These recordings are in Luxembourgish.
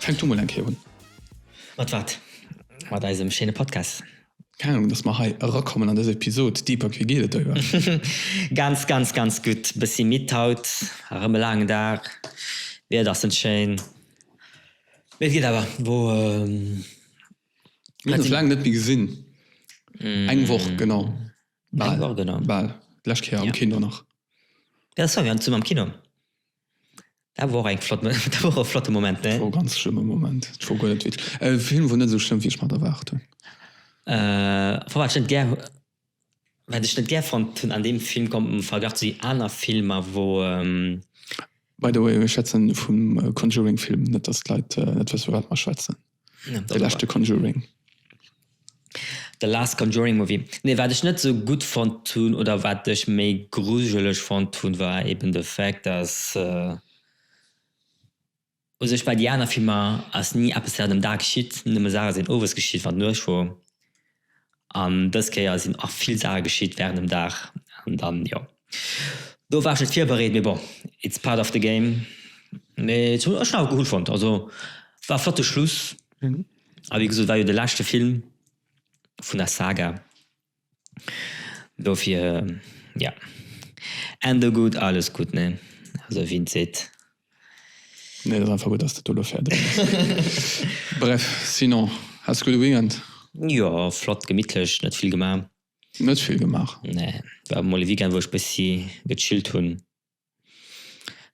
Fänk du mol eng Kéier un. Mat wat? Mat eisem schéine Podcast. Keng Ahnung, dass mer hei erakommen an dëser Episod. Deepak, wéi geet et der iwwerhaapt? Ganz, ganz, ganz gutt. Bëssi midd haut. Erëm e laangen Dag. D'Wieder ass net schéin, mee et geet awer. Wou sinn mir? Mir hunn ons laang net méi gesinn. Eng Woch genau. Bal, bal. D'lescht Kéier am Kino nach. Jo, dat war mir, an zwou mam Kino. Dat wor och eng flott, dat wor och e flotte Moment, ne? Dat wor e ganz schlëmme Moment. Dat wor guer net wit, e Film wor net esou schlëmm, wéi ech mer et erwaart hunn. Enfin, wat ech net gär, wat ech net gär fonnt hunn an deem Film kom, am Verglach zu den aner Filmer, wou. By the way, mir schwätzen vum Conjuring-Film, net dass d'Leit net wësse, firwat mer schwätzen. De leschte Conjuring. The last Conjuring Movie. Nee, wat ech net sou gutt fonnt hunn oder wat ech méi grujeleg fonnt hunn, war eben de Fact, dass u sech bei déi aner Filmer ass ni eppes, wat um Dag geschitt, nëmme Saache sinn owes geschitt, wann d'Nuecht wor. An dës Kéier sinn och vill Saache geschitt während dem Dag. An dann, jo, do war ech net virbereet, mee bon, it's part of the game. Mee et hunn ech awer cool fonnt. Also war e flotte Schluss a wéi gesot war jo de leschte Film vun der Saga, dofir, jo, Ende gutt, alles gutt, ne? Also wien et seet. Nee, dat ass einfach gutt, dass dat do elo fäerdeg ass. Bref, sinon, haas de gudde Weekend? Jo, flott, gemittlech, net vill gemaach. Net vill gemaach? Nee, war mol e Weekend, wou ech bëssi gechillt hunn.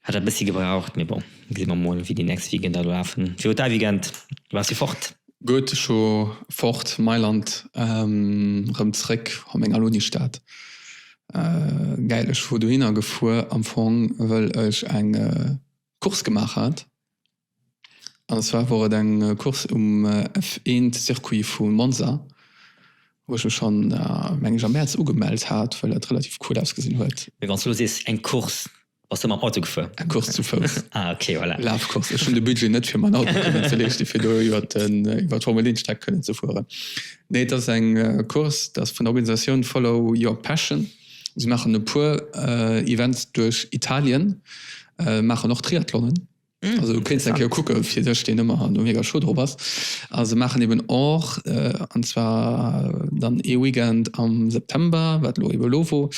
Hat dat bëssi gebraucht, mee bon, gesi mer mol, wéi déi nächst Weekender elo lafen. Wéi wor däi Weekend? Waars de fort? Goethe scho fort, Mailand rëm zréck, oh meng Alunistad gäil. Ech wor dohinner gefuer am Fong wëll ech eng Course gemaach hat, an zwar wor et eng Course um F1 Circuit vu Monza, wou ech mech schonn meng ech am Mäerz ugemellt hat, well dat relativ cool ausgesinn huet. Mee wann s de elo sees eng Course, Bass de mam Auto gefuer? Eng Course zu Fouss. Ah ok, voilà. Lafcourse. Ech hunn de Budget net fir man Auto kënnen ze leeschte fir do iwwert den, iwwert d'Formel 1 Streck kënnen ze fueren. Nee, et ass eng Course, dat ass vun der Organisatioun Follow Your Passion. Si maachen e puer Events duerch Italien, maachen och Triathlonen. Also du kéinst eng Kéier kucke fir dech, deen ëmmer do mega chou drop ass. A se maachen eben och, an zwar dann ee Weekend am September, wat elo ebe lo wor,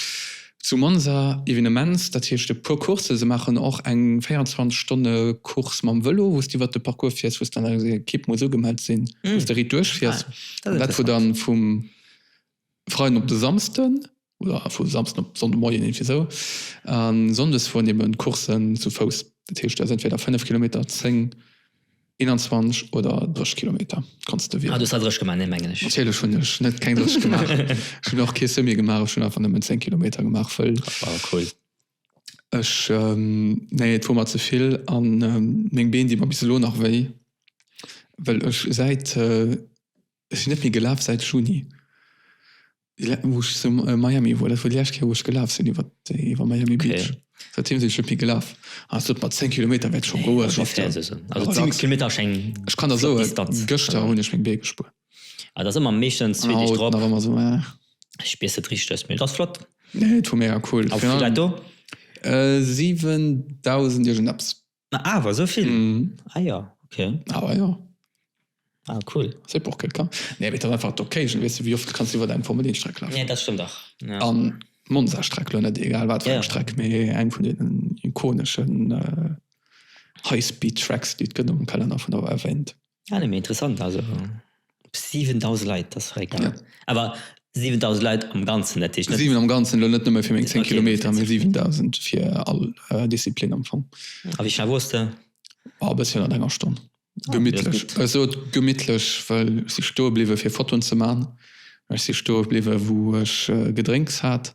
zu Monza Evenements, dat heescht e puer Coursse. Se maachen och eng 24 Stonne Course mam Vëlo, wou s de iwwert de Parcours fiers, wou s de an enger Ekipp muss ugemellt sinn, wou s de riit duerchfiers. Dat, wou dann vum Freiden op de Samsden, oder vu Samsden op Sonndemoien, iergendwéi esou. A Sonndes fueren eben d'Coursen zu Fouss. Dat heescht, dat ass entweder 5 Kilometer, 10, 21 oder 30 Kilometer, kanns de wielen. Ah, du hues der 30 gemaach, nee, mengen ech. Natierlech hunn ech net keng 30 gemaach. Ech hunn och kee Semi gemaach, ech hunn einfach nëmmen 10 Kilometer gemaach, wëll. Wow, cool. Ech, nee, et wor mer ze vill a meng Been di mer bis elo nach wéi, wëll ech säit, Ech sinn net méi gelaf säit Juni, wou ech zu Miami wor. Dat wor déi lescht Kéier wou ech gelaf sinn iwwer iwwer Miami Beach. Säitdeem sinn ech net méi gelaf. Ass dat mat 10 Kilometer wäert scho goen. Ech kann der soen, gëschter hunn ech meng Bee gespuer. An haut nach ëmmer esou. Mee et ass flott. Et wor mega cool. A wéi vill Leit do? 7.000 iergend eppes. Na awer esou vill? Mhm. Ah jo, okay. Awer jo. Ah cool. Sëpp och gëtt kann. Nee, mee et ass einfach d'Occasion, weess de wéi oft kanns de iwwer däin Formel Een Streck lafen? Nee, dat stëmmt dach. Ja. An Monza Streck, lo net egal wat fir eng Streck, mee eng vun deenen ikoneschen High Speed Tracks déi et gëtt am Kalenner vun der WEF. Ah nee mee interessant, also 7000 Leit, dat ass fréck gell. Awer 7000 Leit am Ganzen, dat heescht net. 7 am Ganzen, elo net nëmme fir meng 10 Kilometer, mee 7000 fir all Disziplin am Fong. A wéi schnell woars de? Oh e bëssi ënnert enger Stonn. Gemittlech, ech sot gemittlech, well ech si stoe bliwwe fir Fotoen ze maachen, ech si stoe bliwwe wou ech Gedrénks hat.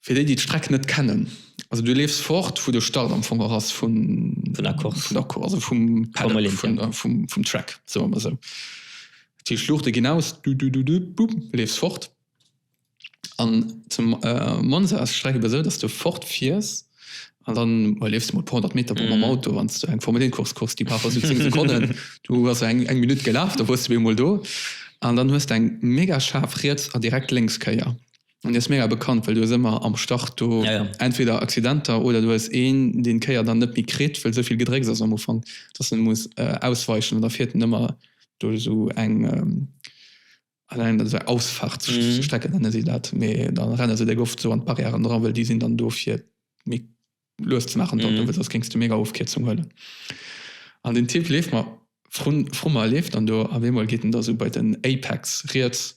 Fir déi, déi d'Streck net kennen, also du leefs fort, wou de Start am Fong och ass vun der Course, also vum Paddock, vum Track, soe mer esou. Dat heescht, d'Luuchte ginn aus, du leefs fort. An zu Monza ass d'Streck ebe esou, dass du fort fiers an dann, jo, leefs mol e puer honnert Meter mam Auto, wann s du eng Formel Een Course kucks, déi brauch also zéng Sekonnen, du bass eng Minutt gelaf, da woars de op eemol do. An dann hues de eng mega schaarf Riets a direkt Lénkskéier. An déi ass mega bekannt, well du hues ëmmer am Start do entweder Accidenter oder du hues een, deen d'Kéier dann net méi kritt, well esou vill Gedrécks ass am Ufank, dass en muss ausweichen. An da fiert en ëmmer duerch esou eng Ausfahrtsstrecke, nenne si dat, mee da renne se déck oft esou an d'Barrièren dra, well déi sinn dann do fir méi lues ze maachen, well soss géings de mega Ofkierzung huelen. An den Typ leeft mer, vru mer, leeft dann do. Op eemol geet en da esou bei den Apex riets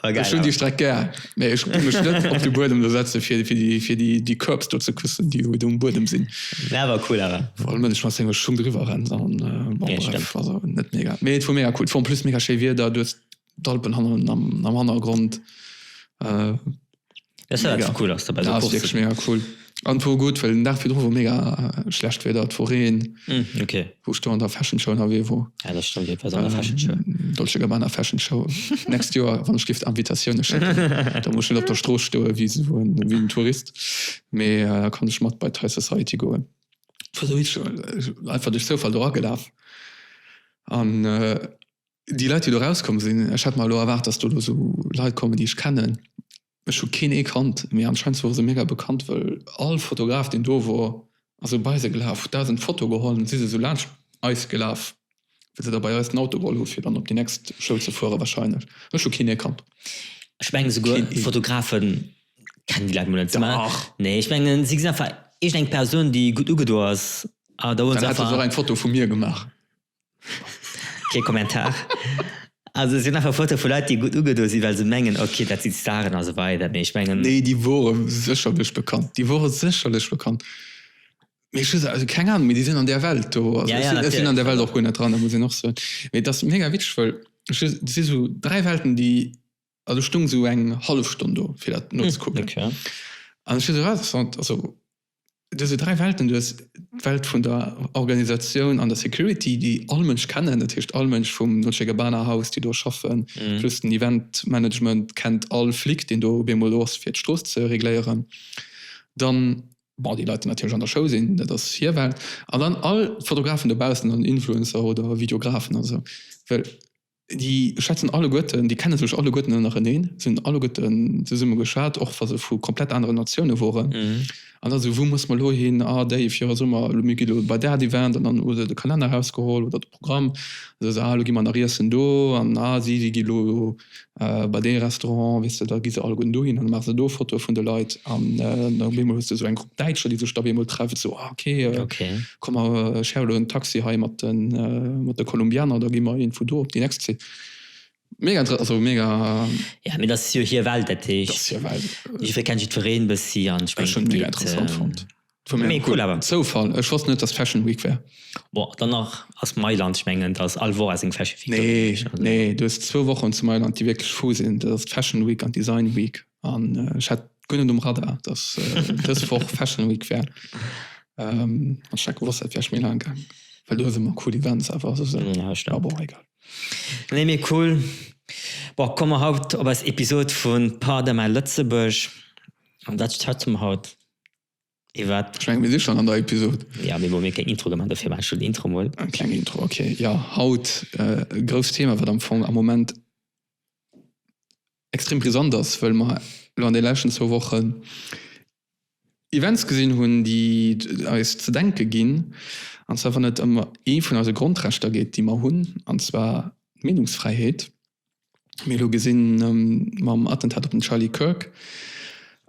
Ech hunn déi Streck gär, mä ech gi mech net op de Buedem do setze fir déi Curbs do ze küssen, déi do um Buedem sinn. Mä war cool awer. Wa de Mënsch mat sengem Schung driwwer rennt, dann bref, also net mega. Mee et wor mega cool. Et wor en plus mega schéi Wieder, du hues d'Alpen am Hannergrond. Das war Mega. cool, dass du bei Da so ass Course wierklech mega cool. An wor gutt, well den Dag virdru wor mega äh, schlecht Wieder, et wor Reen, Hm, okay. wou ech do an der Fashion Show ënnerwee wor. Ja, das stimmt, dat war so eine Fashion Show. Ähm, Dolce Gabbana Fashion Show. Next Joer, wann ech gift Invitatioune schécken, da muss ech net op der Strooss stoe wéi s- wou en- wéi en Tourist, mee äh, da kann ech mat bei d'High Society goen. Wor sou richteg, äh, einfach duerch Zoufall do agelaf an äh, Déi Leit, déi elo erauskomm sinn, ech hat mer elo erwaart, datt do elo esou Leit kommen, déi ech kennen. Ech hu keen ee kannt, mee anscheinend wore se mega bekannt, well all Fotograf, deen do wor, ass esou bei se gelaf, huet dausend Fotoe geholl an si se esou laanscht eis gelaf, wéi se da bei eis den Auto geholl hu fir dann op déi nächst Show ze fuere warscheinlech. Ech hu keen ee kannt. Ech mengen esouguer Fotografe kennen déi Leit mol net. Dach! Nee, ech mengen, si gesinn einfach iergendeng Persoun, déi gutt ugedo ass a da huele se einfach. Dann hätte se och eng Foto vu mir gemaach. Kee Kommentar. Also es sinn einfach Foto vu Leit, déi gutt ugedo sinn, well se mengen, okay, dat si Staren a sou weider. Mee ech mengen. Nee, déi wore sécherlech bekannt. Déi wore sécherlech bekannt. Mee ech hu se, keng Anung, mee déi sinn an där Welt do. Also ech sinn an där Welt och guer net dran, dat muss een och soen. Mee et ass mega witzeg, well et si sou dräi Welten, déi. Also stung sou eng hallef Stonn do fir dat nozekucken. An ech fir sou interessant, also du sou dräi Welten, du hues d'Welt vun der Organisatioun an der Security, déi all Mënsch kennen, dat heescht all Mënsch vum Dolce Gabbana Haus, déi do schaffen, plus den Event Management kennt all Flic, deen do op eemol do ass fir d'Strooss ze regléieren. Dann, bon, déi Leit déi natierlech an der Show sinn, dat ass hir Welt. An dann all Fotografen dobaussen an Influencer oder Videografen a sou. Well Déi schwätzen alleguerten, déi kenne sech alleguerten ënnereneen, sinn alleguerten zesumme geschat, och wa se vu komplett anere Natioune woren. An da sou, wou musse mer elo hin? Ah, déif, jo, soe mer elo, mir gi elo bei dat Event. An dann hu se de Kalenner erausgeholl oder de Programm. An da sou, ah, elo gi mer nach iessen do. An ah, si, si gi elo bei dee Restaurant, weess de. Da gi se alleguerten dohin an da maache se do Fotoe vun de Leit. An da op eemol hues de sou eng Grupp Däitscher, déi sech da op eemol treffen, sou, ah, okay. Komm mer share elo en Taxi hei mat de Kolumbianer, da gi mer een vu do op déi nächst Zit. Mega interessant, also mega. Jo, mee dat ass jo hir Welt, dat heescht. Dat ass hir Welt. Jiddweree kennt jiddwereen e bëssi an ech mengen. Ech hunn et mega interessant fonnt. Mee cool awer. Zoufall, ech wosst net dass Fashion Week wär. Bon, dann nach ass Mailand, ech mengen da ass all Woch ass eng Fashion Week. Nee, nee, du hues zwou Wochen zu Mailand déi wierklech fou sinn, dat ass d'Fashion Week an d'Design Week. An ech hat guer net um Radar, dass dës Woch Fashion Week wär. An ech hat gewosst, dat wär méi laang gaangen, well do hues ëmmer cool Events awer. Ja, stimmt. Bon, egal. Nee, mee cool. Bon, komme mer haut op eis Episod vu Pardon my Lëtzebuerg. An dat schwätze mer haut. Et wat? Ech mengen mir si schonn an der Episod. Ja, mee wou mir keng Intro gemaach, dofir maache ech elo d'Intro mol. Eng kleng Intro, ok. Jo, haut e grousst Thema, wat am Fong am Moment extrem brisant ass, well mer elo an de leschten zwou Wochen Events gesinn hunn, déi eis ze denke ginn, an zwar wann et ëm ee vun eise Grondrechter geet, déi mer hunn, an zwar d'Meenungsfräiheet. mir elo gesinn mam Attentat op den Charlie Kirk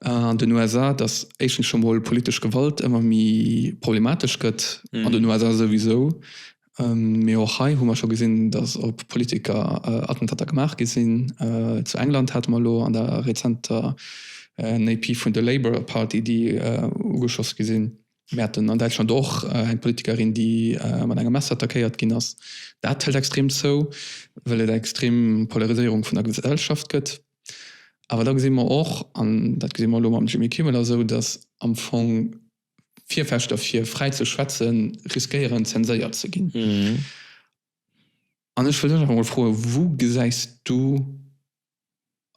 an den USA, datt éischtens scho mol politesch Gewalt ëmmer méi problematesch gëtt, an den USA souwisou, mee och hei hu mer scho gesinn, datt op Politiker Attentater gemaach gi sinn. Zu England hate mer elo an der rezenter MEP vun de Labour Party, déi ugeschoss gi sinn. Mir haten an Däitschland och eng Politikerin, déi mat engem Messer attackéiert ginn ass. Dat hëlt extrem zou, well et eng extrem Polariséierung vun der Gesellschaft gëtt. Awer da gesi mer och, an dat gesi mer elo mam Jimmy Kimmel a sou, datt am Fong d'Virfechter fir fräi ze schwätze riskéieren, zenséiert ze ginn. An ech wëll dech einfach emol froen, Wou gesäis du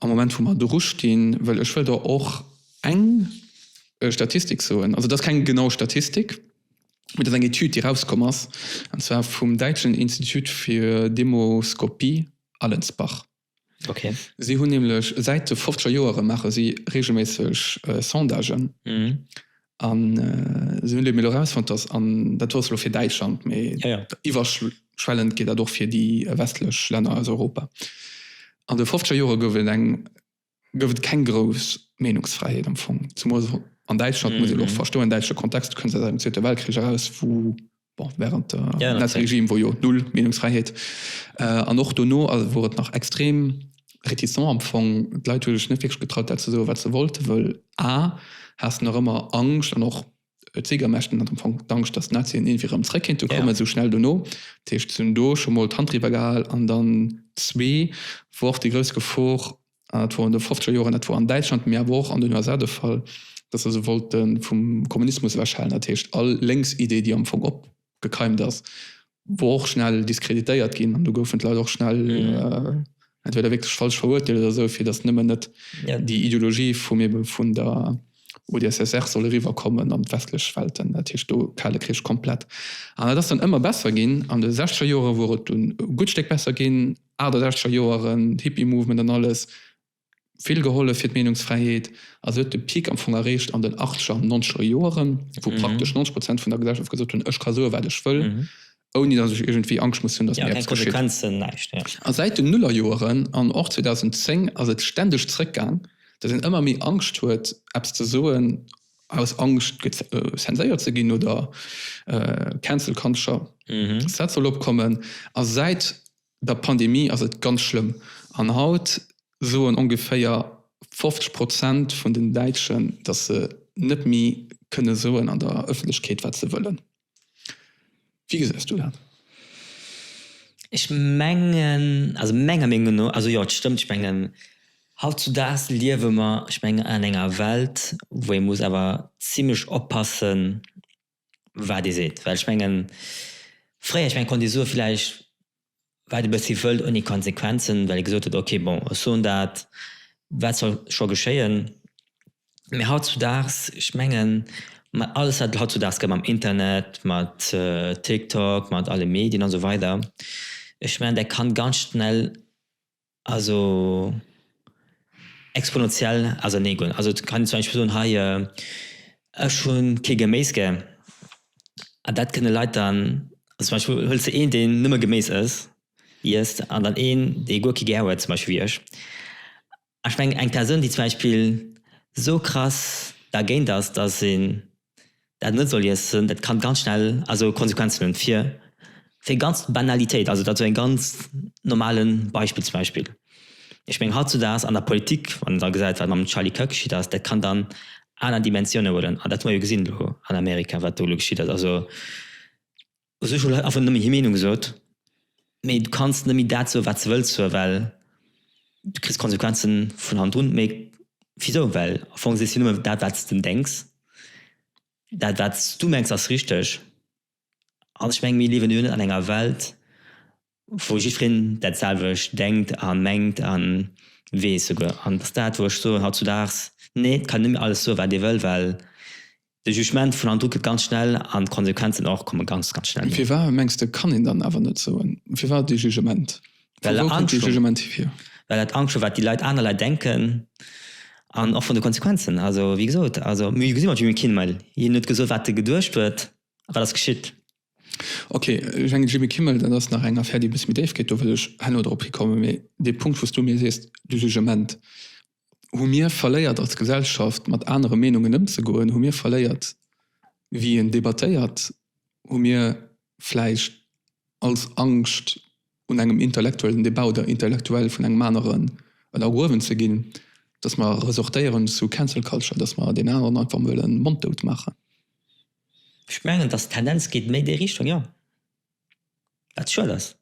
am Moment wou mer dru stinn, well ech wëll do och eng Statistik soen, also et ass keng genau Statistik, mee et ass eng Etüd, déi erauskomm ass, an zwar vum däitschen Institut für Demoskopie Allensbach. Si hunn nämlech säit de fofzeger Joere maache si reegelméisseg Sondagen An esou hunn elo erausfonnt, dass, an dat wor elo fir Däitschland, mee iwwerschwellend gëllt dat och fir déi westlech Länner aus Europa, an de fofzeger Jore gouf et eng, gouf et keng grouss Meenungsfräiheet am Fong, zemools an Däitschland, muss een och verstoen, däitsche Kontext, du kënns aus engem Zweete Weltkrich eraus, wou bon, während der ja, Nazi-Regime wor jo null Meinungsfreiheit äh, an och dono also wor et nach extrem reticent am Fong d'Leit hun sech net wirklich getraut dat ze so wat ze wollte wëll a hast nach ëmmer Angst an och äh, Ziegermächten hat am Fong d'Angst dass Nazien irgendwie rëm zréck kéint kommen ja. so schnell dono Techt hunn do schon mal d'Hand drüber gehal an dann zwee wor de grouss Gefor Dat wor an de fofzeger Joren, dat wor an Däitschland, mee awer och an den USA de Fall, dass se se wollte vum Kommunismus ewechhalen. Dat heescht, all lénks Idee, déi am Fong opgekeimt ass, wor och schnell diskreditéiert ginn an do goufen d'Leit och schnell entweder wierklech falsch verurteelt oder esou, fir dass nëmmen net déi Ideologie vum ebe vun der UdSSR soll eriwwerkommen an d'westlech Welten. Dat heescht do Kale Krich komplett. An dat ass dann ëmmer besser ginn. An de sechzeger Jore wor et dunn e gutt Stéck besser ginn. 68er Joeren, Hippie-Movement an alles, vill gehollef fir d'Meenungsfräiheet. A se huet de Peak am Fong erreecht an den Achtzeger an Nonzeger Joeren, wou praktesch 90 Prozent vun der Gesellschaft gesot hunn, ech ka soen, wat ech wëll, ouni datt ech iergendwéi Angscht muss hunn, datt mir eppes geschitt. A säit den Nullerjoeren an och 2010 ass et ständeg zeréckgaang, datt een ëmmer méi Angscht huet, eppes ze soen, Aus Angscht zenséiert ze ginn oder Cancel Culture, dat soll opkommen. A säit der Pandemie ass et ganz schlëmm. An haut soen ongeféier 50 Prozent vun den Däitschen, datt se net méi kënne soen an der Ëffentlechkeet, wat se wëllen. Wéi gesäis du dat? Ech mengen, also menger Meenung no, also jo et stëmmt, ech mengen hautzudaags liewe mer, ech mengen an enger Welt wou ee muss awer zimmlech oppassen wat ee seet, well ech mengen fréier, ech mengen konnt ee soe villäicht wat e bëssi wëllt, ouni Konsequenzen, well ee gesot huet, okay, bon, ech soen dat, wat soll scho geschéien. Mee hautzudaags, ech mengen, mat alles, wat hautzudaags gëtt, mam Internet, mat TikTok, mat alle Medien a sou weider, ech mengen, dat kann ganz schnell Also exponentiell, also nee guer net. Also kann zum Beispill soen hei ech hu kee Geméis gär an dat kënne Leit dann, zum Beispill huels de een deen nëmme Geméis ësst, iesst an dann een dee guer kee gär huet zum Beispill wéi ech. Ech mengen eng Persoun déi zum Beispill sou krass dergéint ass, datt se dat net soll iessen, dat kann ganz schnell also Konsequenzen hunn fir fir ganz Banalitéit, also dat sou en ganz normalen Beispill zum Beispill. Ech mengen hautzudaags an der Politik, wann een da gesäit wat mam Charlie Kirk geschitt ass, dat kann dann aner Dimensiounen huelen an dat hu mer jo gesinn elo an Amerika wat do elo geschitt ass, also. Also ech hu leit einfach nëmme hir Meenung gesot, mee du kanns nëmme dat soe wat s de wëlls soe well du kriss Konsequenze vun hannerun. Mee wisou, well am Fong sees du jo nëmme dat wat s de denks, dat wat s du mengs ass richteg an ech meng mir liewen jo net an enger Welt wou jiddwereen dat selwecht denkt a mengt a weess souguer. An et ass dat, wou ech soen, hautzudaags, nee, et kann net méi alles soen, wat ee wëll, well de Jugement vun handdru kënnt ganz schnell an d'Konsequenzen och komme ganz, ganz schnell. Firwat, mengs de, kann een dann awer net soen? Firwat dee Jugement? Vu wou kënnt dee Jugement hier? Well dat Angscht huet, wat déi Leit, aner Leit denken an och vun de Konsequenzen. Also, wéi gesot, also mir gesi mat Jimmy Kimmel, hien huet gesot, wat e geduecht huet a wat ass geschitt. Ok, Jeanny, Jimmy Kimmel, dat ass nach eng Affär, déi e bësse méi déif geet, do wëll ech herno drop hikommen. Mee dee Punkt, wou s du mir sees, de Jugement, Hu mir verléiert als Gesellschaft, mat anere Meenungen ëmzegoen? Hu mir verléiert, wéi een debattéiert? Hu mir vläicht als Angscht, un engem intellektuellen Debat oder intellektuell vun engem aneren ënnergruewen ze ginn, dass mer resortéieren zu Cancel Culture, dass mer deen aneren einfach emol e Mond dout maachen? Ech mengen, dass d'Tendenz geet méi déi Richtung, jo. Wat schued ass.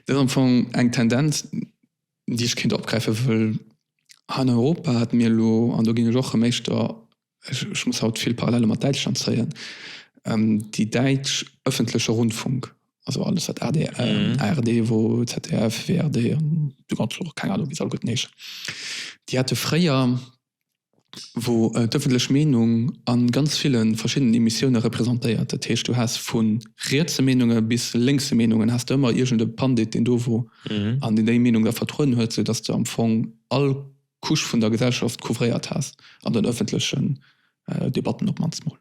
Dat ass am Fong eng Tendenz, déi ech kéint opgräifen, wëll hei an Europa hat mir elo, an do ginn ech och rëm éischter, ech muss haut vill Parallele mat Däitschland zéien, déi däitsch öffentliche Rundfunk, also alles wat adr, ard, wou ZDF, WRD an de ganze, keng Ahnung, wéi se alleguerten heeschen, déi hate fréier, wou d'ëffentlech Meenung a ganz ville verschiddenen Emissioune representéiert, dat heescht du has vu rietse Meenunge bis lénkse Meenungen, has de ëmmer iergend e Pandit deen do wor an deen déi Meenung da vertrueden huet, sou datt de am Fong all Couche vun der Gesellschaft couvréiert has an den ëffentlechen Debatten op d'mannst mol.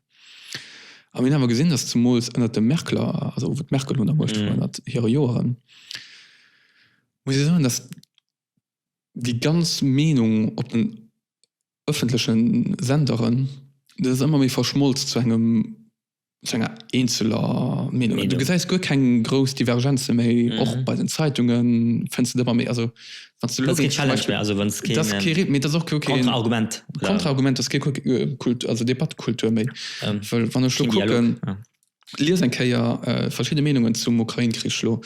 A mir hunn awer gesinn, datt zemools ënnert de Merkeler, also wou d'Merkel un der Muecht wor ënnert hire Joeren, muss ee soen, datt déi ganz Meenung op den ëffentleche Senderen, dat ass ëmmer méi verschmolz zu engem, zu enger eenzeler Meenung. Du gesäis guer keng grouss Divergenze méi. Och bei den Zeitunge fënns de et ëmmer méi. Also wann s de elo géings zum Beispill, dat ass kee Rit, mee dat ass och kee Konterargument, dat ass kee Kult, also Debattekultur méi. Well wann ech elo kucken, Lies eng Kéier verschidde Meenungen zum Ukrain-Krich elo.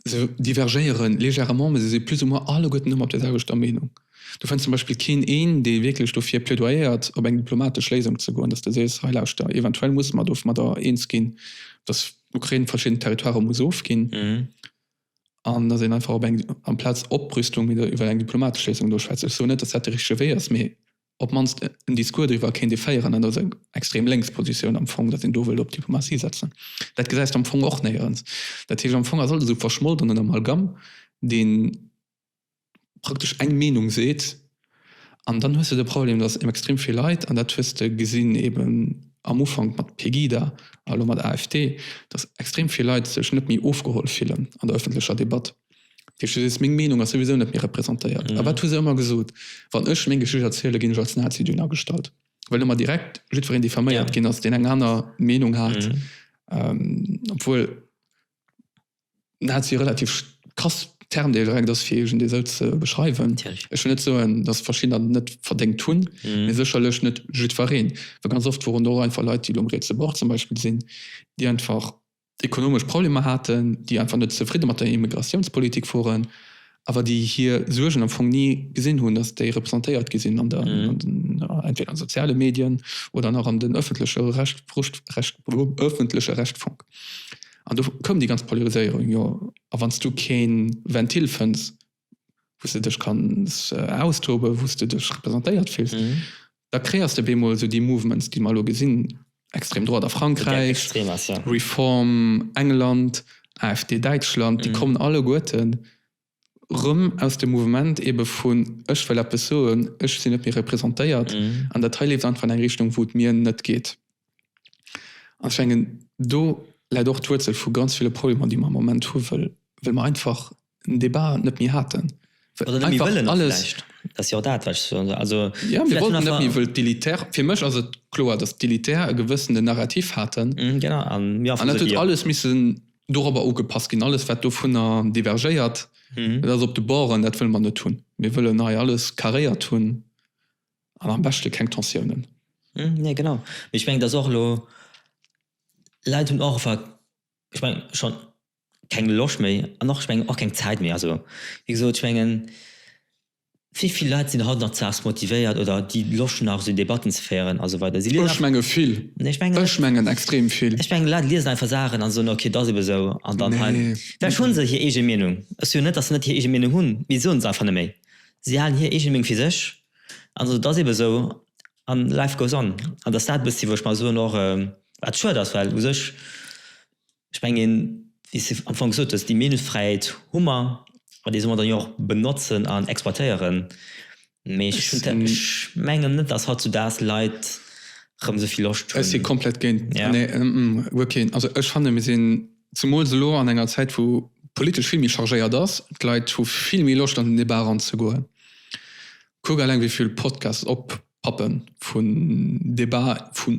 Se divergéieren légèrement, mä se si plus ou moins alleguerten ëmmer op der selwechter Meenung. Du fënns zum Beispill keen een, dee wierklech dofir plädoyéiert, op eng diplomatesch Léisung ze goen, dass de sees, hei lauschter, eventuell musse mer domadder eens ginn, dass d'Ukrain verschidden Territoiren muss ofginn, an dass een einfach op eng, amplaz Oprüstung, iwwer eng diplomatesch Léisung do schwätzt. Ech soen net, dass dat de richtege Wee ass, mä. op d'mannst en Discours driwwer kéint ee féieren, dat ass eng extrem lénks Positioun am Fong, datt een do wëllt op d'Diplomatie setzen. Dat gesäis de am Fong och néierens. Dat heescht, am Fong ass alles esou verschmolt an en Amalgam, dee praktesch eng Meenung seet. An dann hues de de Problem, datt ebe extrem vill Leit, an dat hues de gesinn eben am Ufank mat Pegida a lo mat AfD, datt extrem vill Leit sech net méi ofgeholl fillen an der ëffentlecher Debatt. Wichteg ass, meng Meenung ass souwisou net méi representéiert. A wat hu se ëmmer gesot? Wann ech meng Geschicht erzielen, ginn ech als Nazi duerno agestallt, well ëmmer direkt jiddwereen diffaméiert ginn ass, deen eng aner Meenung hat, obwuel Nazi e relativ krass Term dee direkt ass, fir iergendee esou ze beschreiwen. Ech wëll net soen, dass verschiddener dat net verdéngt hunn, mee sécherlech net jiddwereen, well ganz oft woren do och einfach Leit, déi elo um rietse Bord zum Beispill sinn, déi einfach ekonomesch Problemer haten, déi einfach net zefridde mat der Immigratiounspolitik woren, awer déi hir Suergen am Fong ni gesinn hunn, datt déi representéiert gi sinn an der, entweder an soziale Medien oder nach an den öffentleche Rechtfunk. An do koum déi ganz Polariséierung, jo, a wann s du kee Ventil fënns, wou s de dech kanns austoben, wou s de dech representéiert fills, da kreéiers de op eemol esou déi Mouvements, déi mer elo gesinn, extrême droite a Frankräich, Reform England, AfD Däitschland, déi kommen alleguerte rëm aus dem Mouvement eebe vun ech wëll eppes soen, ech sinn net méi representéiert an dat hei leeft einfach an eng Richtung, wou et mir net geet. An ech mengen, do läit och d'Wuerzel vu ganz ville Problemer, déi mer am Moment hu wëll mer einfach den Débat net méi haten. Oder net méi wëllen och vläicht. Dat ass jo och dat, wat ech soen. Also vläicht hunn einfach. Fir mech ass et kloer, datt d'Elitär e gewëssenen Narrativ haten. Genau, a mir erfëlle dee jo. An et huet alles missen dorobber ugepasst ginn. Alles, wat dovunner divergéiert, dat ass op de Borden, dat wëlle mer net hunn. Mir wëllen hei alles carréiert hunn an am beschte keng Tensiounen. Nee, genau. Mee ech mengen, datt och elo Leit hunn och einfach, ech mengen, schonn keng Loscht méi an och ech mengen och keng Zäit méi. Also wéi gesot, ech mengen wéi vill Leit sinn haut nach z'Aars motivéiert oder déi Loscht hunn nach esou Debatten ze féieren a sou weider? Si liesen einfach. Ech menge vill. Nee, ech mengen net. Ech mengen extrem vill. Ech mengen d'Leit liesen einfach Saachen a soen, okay, 't ass ebe esou an dann halen. Nee. Vläch hunn se hir eege Meenung. Ech soe jo net, datt se net hir eege Meenung hunn, mee si soen se einfach net méi. Si halen hir eege Meenung fir sech an soen, 't ass ebe esou an life goes on. An 't ass dat e bëssi wou ech mer soen och, wat schued ass, well u sech, Ech mengen, wéi s de am Fong gesot hues, déi Meenungsfräiheet hu mer an déi solle mer dann jo och benotzen an exploitéieren. Mee ech mengen net, datt hautzudags Leit erëm esou vill Loscht hunn. Ech si komplett géint. Also ech fannen, mir sinn, zemools elo, an enger Zäit, wou politesch vill méi chargéiert ass. D'Leit hu vill méi Loscht an den Débat eranzegoen. Kuck eleng, wéi vill Podcasts op Pappen vun Debat vun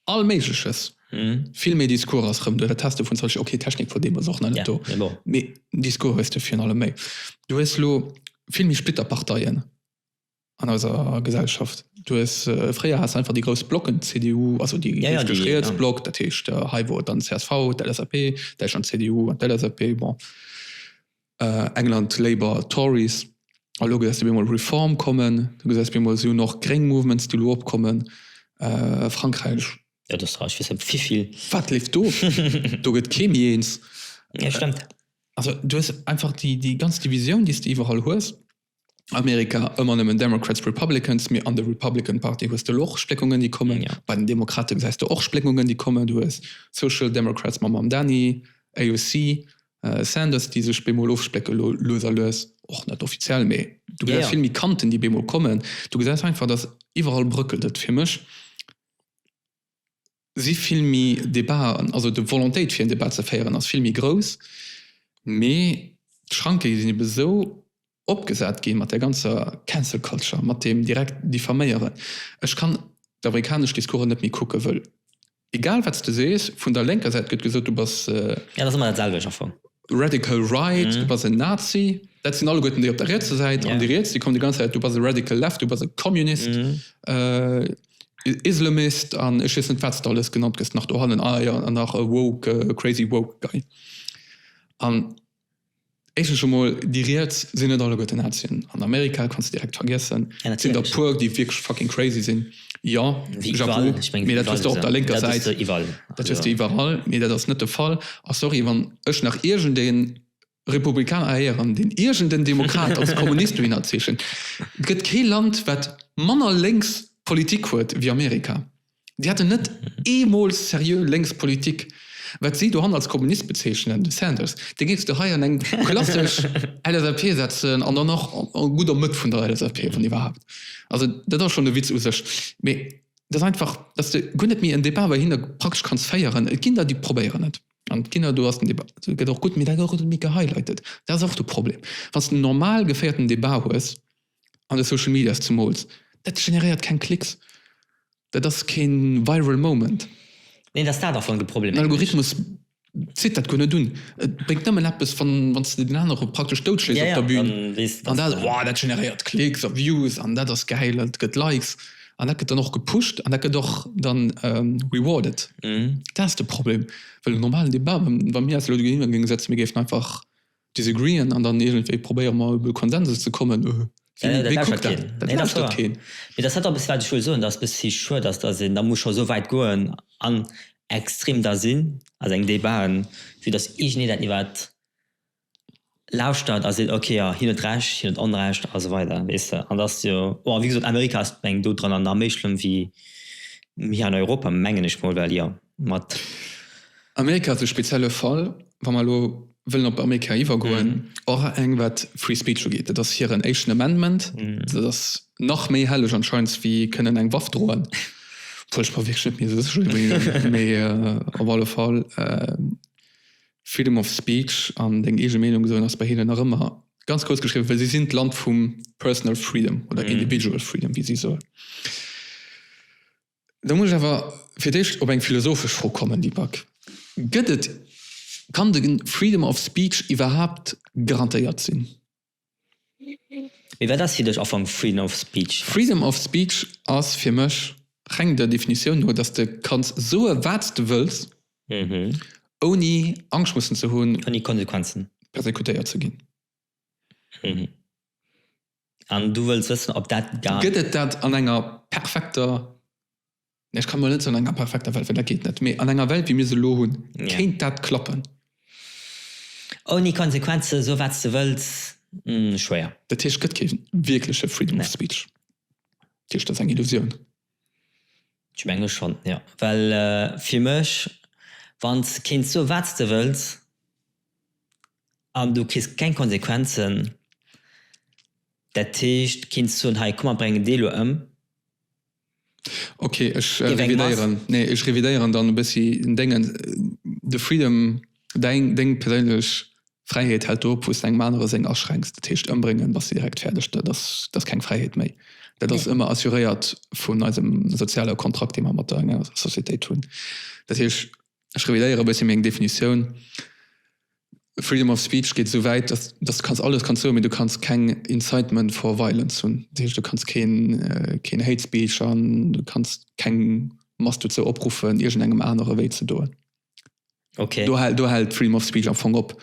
all méigleches, vill méi Discours ass rëm do, dat has de vun Social, okay Technik vun deem ass och nach net do, mee Discours hues de virun allem méi. Du hues elo vill méi Splitterparteien an eiser Gesellschaft. Du hues, fréier has de einfach déi grouss Blocken, CDU, also déi richteg riets Block, dat heescht hei wor et dann csv, d'LSAP, Däitschland, CDU an d'LSAP, bon. England, Labour, Tories, a lo gesäis de op eemol Reform kommen, du gesäis op eemol si hunn och gréng Mouvements, déi elo opkommen, Frankräich. Dat ass rar, ech weess net wivill. Wat leeft do? Do gëtt kee méi eens. Jo, stëmmt. Also du hues einfach déi ganz Divisioun, déi s de iwwerall hues. Amerika ëmmer nëmmen Democrats, Republicans, mee an der Republican Party hues de elo och Spléckungen déi kommen. Ja. Bei den Demokrate gesäis de och Spléckungen déi kommen. Du hues Social Democrats mam Mamdani, AOC, Sanders déi sech bemol ofsplécke lo lues a lues, och net offiziell, mee du gesäis vill méi Kanten déi bemol kommen. Du gesäis einfach datt iwwerall brëckelt et fir mech. si vill méi Debaten, also de Volontéit fir en Debat ze féieren ass vill méi grouss, mee d'Schranke sinn ebe sou opgesat gi mat där ganzer Cancel Culture, mat deem direkt Diffaméieren. Ech kann d'amerikanesch Discoursen net méi kucken, wëll egal wat s de sees, vun der lénker Säit gëtt gesot, du bass. Jo, dat ass ëmmer dat selwecht am Fong. Radical right, du bass en Nazi. Dat sinn alleguerten déi op der rietser Säit. An déi Riets, déi kommen déi ganz Zäit, du bass e Radical left, du bass e Communist. Islamist an ech weess net wat s de alles genannt gëss nach dohannen, ah jo an nach e woke, e crazy woke guy. An éischtens emol, déi riets sinn net alleguerte Nazien, an Amerika kanns de direkt vergiessen, et sinn der e puer déi wierklech fucking crazy sinn, jo Chapeau, mee dat hues de op der lénker Säit, dat hues de iwwerall, mee dat ass net de Fall. A sorry, wann ech nach iergendeen Republikaner erhéieren, deen iergend en Demokrat als Kommunist dohinner zeechent. Et gëtt kee Land, wat manner lénks Politik huet wéi Amerika. Déi haten net eemol seriö lénks Politik. Wat si dohan als Kommunist bezeechnen, de Sanders, dee géifs de hei an eng klassesch LSAP setzen, an dann nach gutt am Mëtt vun der LSAP, wann iwwerhaapt. Also dat ass schonn e Witz u sech. Mee et ass einfach, datt s de guer net méi en Debat bei hinne praktesch kanns féieren. Et ginn der, déi probéieren et. An d'Kinner, do ass den Débat, dat gëtt och gutt, mee dat gëtt och méi gehighlighted. Dat ass och de Problem. Wann s de en normal geféierten Débat hues, an de Social Medias zemools, dat generéiert keng Klicks, dat ass kee viral moment. Neen, et ass dat am Fong de Problem. Den Algorithmus zitt dat guer net un. Et bréngt nëmmen eppes, wann s de den anere praktesch doutschléis op der Bühn, an dat, oh, dat generéiert Klicks a Views an dat ass gäil, dat gëtt Likes. an dat gëtt dann och gepusht an dat gëtt och dann rewarded. Dat ass de Problem, well am normalen Debat, wa mir eis elo dogéint géinge setzen, mir géifen einfach disagreeën an dann iergendwéi probéiere mer iwwer e Konsensus ze kommen, wéi kuckt dat? Nee, dat lauschtert keen. Dat lauschtert keen. Mee dat ass dat eppes, wat ech wëll soen, dass et e bësse vill schued ass, dass een da muss scho esou wäit goen an extrem da sinn a sengen Debaten, fir dass iergendeen dat iwwert. lauschtert a seet ok jo hien huet Recht, hien huet Onrecht a sou weider weess de an et ass jo bon wéi gesot Amerika ass mengen do dran an nach méi schlëmm wéi hir an Europa mengen ech mol well jo mat. Amerika ass e spezielle Fall wa mer elo wëllen op Amerika iwwergoen och eng wat free speech ugeet et ass hiren éischten Amendment dat ass nach méi helleg anscheinend wéi kënnen eng Waff droen obwuel ech mer wierklech net méi sou sécher sinn mee op alle Fall Freedom of speech an deng eege Meenung soen ass bei hinnen nach ëmmer ganz grouss geschriwwen, well si sinn d'Land vum personal freedom oder individual freedom, wéi si soen. Elo muss ech awer fir d'éischt op eng philosophesch Fro kommen, déi Back. Gëtt et, kann de Freedom of speech iwwerhaapt garantéiert sinn? Mee wat ass fir dech Ufank Freedom of Speech? Freedom of Speech ass fir mech, reng der Definitioun no, dass de kanns soe wat s de wëlls, ouni Angscht mussen ze hunn, ouni Konsequenzen, persekutéiert ze ginn. An du wëlls wëssen, ob dat. Gëtt et dat an enger perfekter Ech kann mer net an enger perfekter Welt, well dat geet net, mee an enger Welt wéi mir se elo hunn, kéint dat klappen. Ouni Konsequenzen, so wat s de wëlls, schwéier. Dat heescht, et gëtt kee wierkleche Freedom of Speech? Dat heescht, dat ass eng Illusioun? Ech menge schonn, jo. Well fir mech, wann s kéints soe wat s de wëlls an du kriss keng Konsequenzen, dat heescht, kéints soen, hei komm mer bréngen dee elo ëm. Okay, ech revidéieren, nee ech revidéieren dann e bëssi déngen. De Freedom, däin, déng perséinlech Fräiheet hält do op, wou s de engem anere seng aschränks. Dat heescht, ëmbréngen, da si direkt fäerdeg, dat ass, dat ass keng Fräiheet méi. Dat ass ëmmer assuréiert vun eisem soziale Kontrakt, dee mer mat der enger Societéit hunn. Dat heescht, ech revidéiere e bëssi meng Definitioun. Freedom of speech geet esou wäit, dass, dass du kanns alles kanns soen, mee du kanns keng incitement for violence hunn. Dat heescht, du kanns keen, keen hate speech an du kanns keng Mass dozou opruffen, iergendengem anere wéi ze doen. Okay. Do, do hält d'Freedom of speech am Fong op.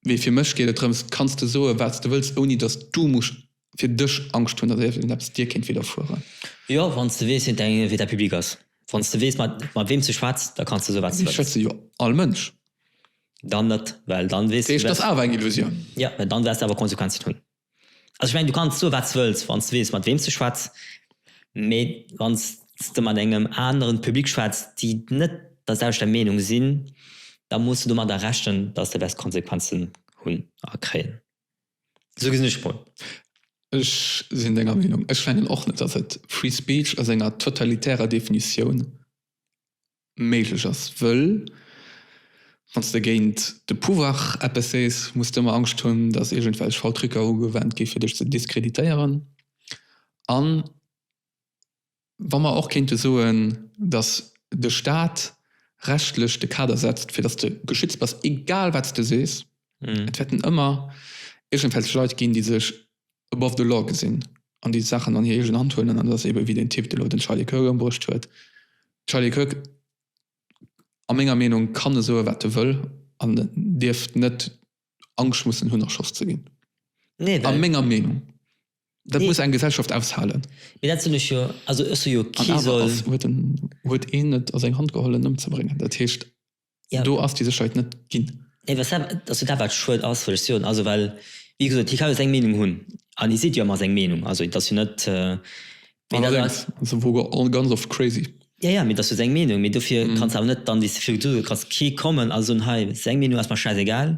Mee fir mech geet et drëms, kanns de soen, wat s de wëlls, ouni dass du musst fir dech Angscht hunn, datt iergendeppes dir kéint widderfueren. Jo, wann s de weess, wien däin Invité public ass. Wann s de weess, mat wéem s de schwätz, da kanns de sou wat s de wëlls. Mee et schwätze jo all Mënsch. Dann net, well dann weess de. Dat heescht, et ass awer eng Illusioun. Jo, mä dann wäerts de awer Konsequenzen hunn. Also ech mengen, du kanns sou wat s de wëlls, wann s de weess, mat wéem s de schwätz. Mee wann s de mat engem aneren Public schwätz, déi net dat aus der Meenung sinn, da muss de domadder rechnen, datt s de wäerts Konsequenzen hunn a kréien. Esou gesinn ech d'Fro. Ech sinn denger Meenung. Ech fannen och net, datt et Free Speech a senger totalitärer Definitioun méiglech ass, wëll wann s de géint de Pouvoir eppes sees, muss d'ëmmer Angscht hunn, datt iergendwelch faul Trucker ugewannt gi fir dech ze diskreditéieren an Wa mer och kéinte soen, datt de Stat rechtlech de Kader setzt, fir datt de geschützt bass, egal wat s de sees, et wäerten ëmmer iergendwelch Leit ginn, déi sech above the law gesinn an déi d'Saachen an hir eegen Hand huelen. An et ass eeben wéi deen Typ, deen elo den Charlie Kirk ëmbruecht huet. Charlie Kirk, a menger Meenung, kann e soe wat e wëll an dierft net Angscht mussen hunn erschoss ze ginn. Nee, well. A menger Meenung. Dat muss eng Gesellschaft aushalen. Mee dat hunn ech jo, also ech hu jo kee soll. An awer ass, huet een et a seng Hand geholl en ëmzebréngen. Dat heescht, do ass déi Sécherheet net ginn. Nee, well dat, dat ass jo dat wat schued ass, wëll ech soen. Also well, wéi gesot, hie kann jo seng Meenung hunn an hie seet jo ëmmer seng Meenung. Also dat ass jo net, Mee dat ass. Ass e Wogo all ganz oft crazy. Jo, jo, mee dat ass jo seng Meenung. Mee dofir kanns de awer net dann dys Figuren huelen. Et ka kee kommen a soen, hei, seng Meenung ass mer schäisegal,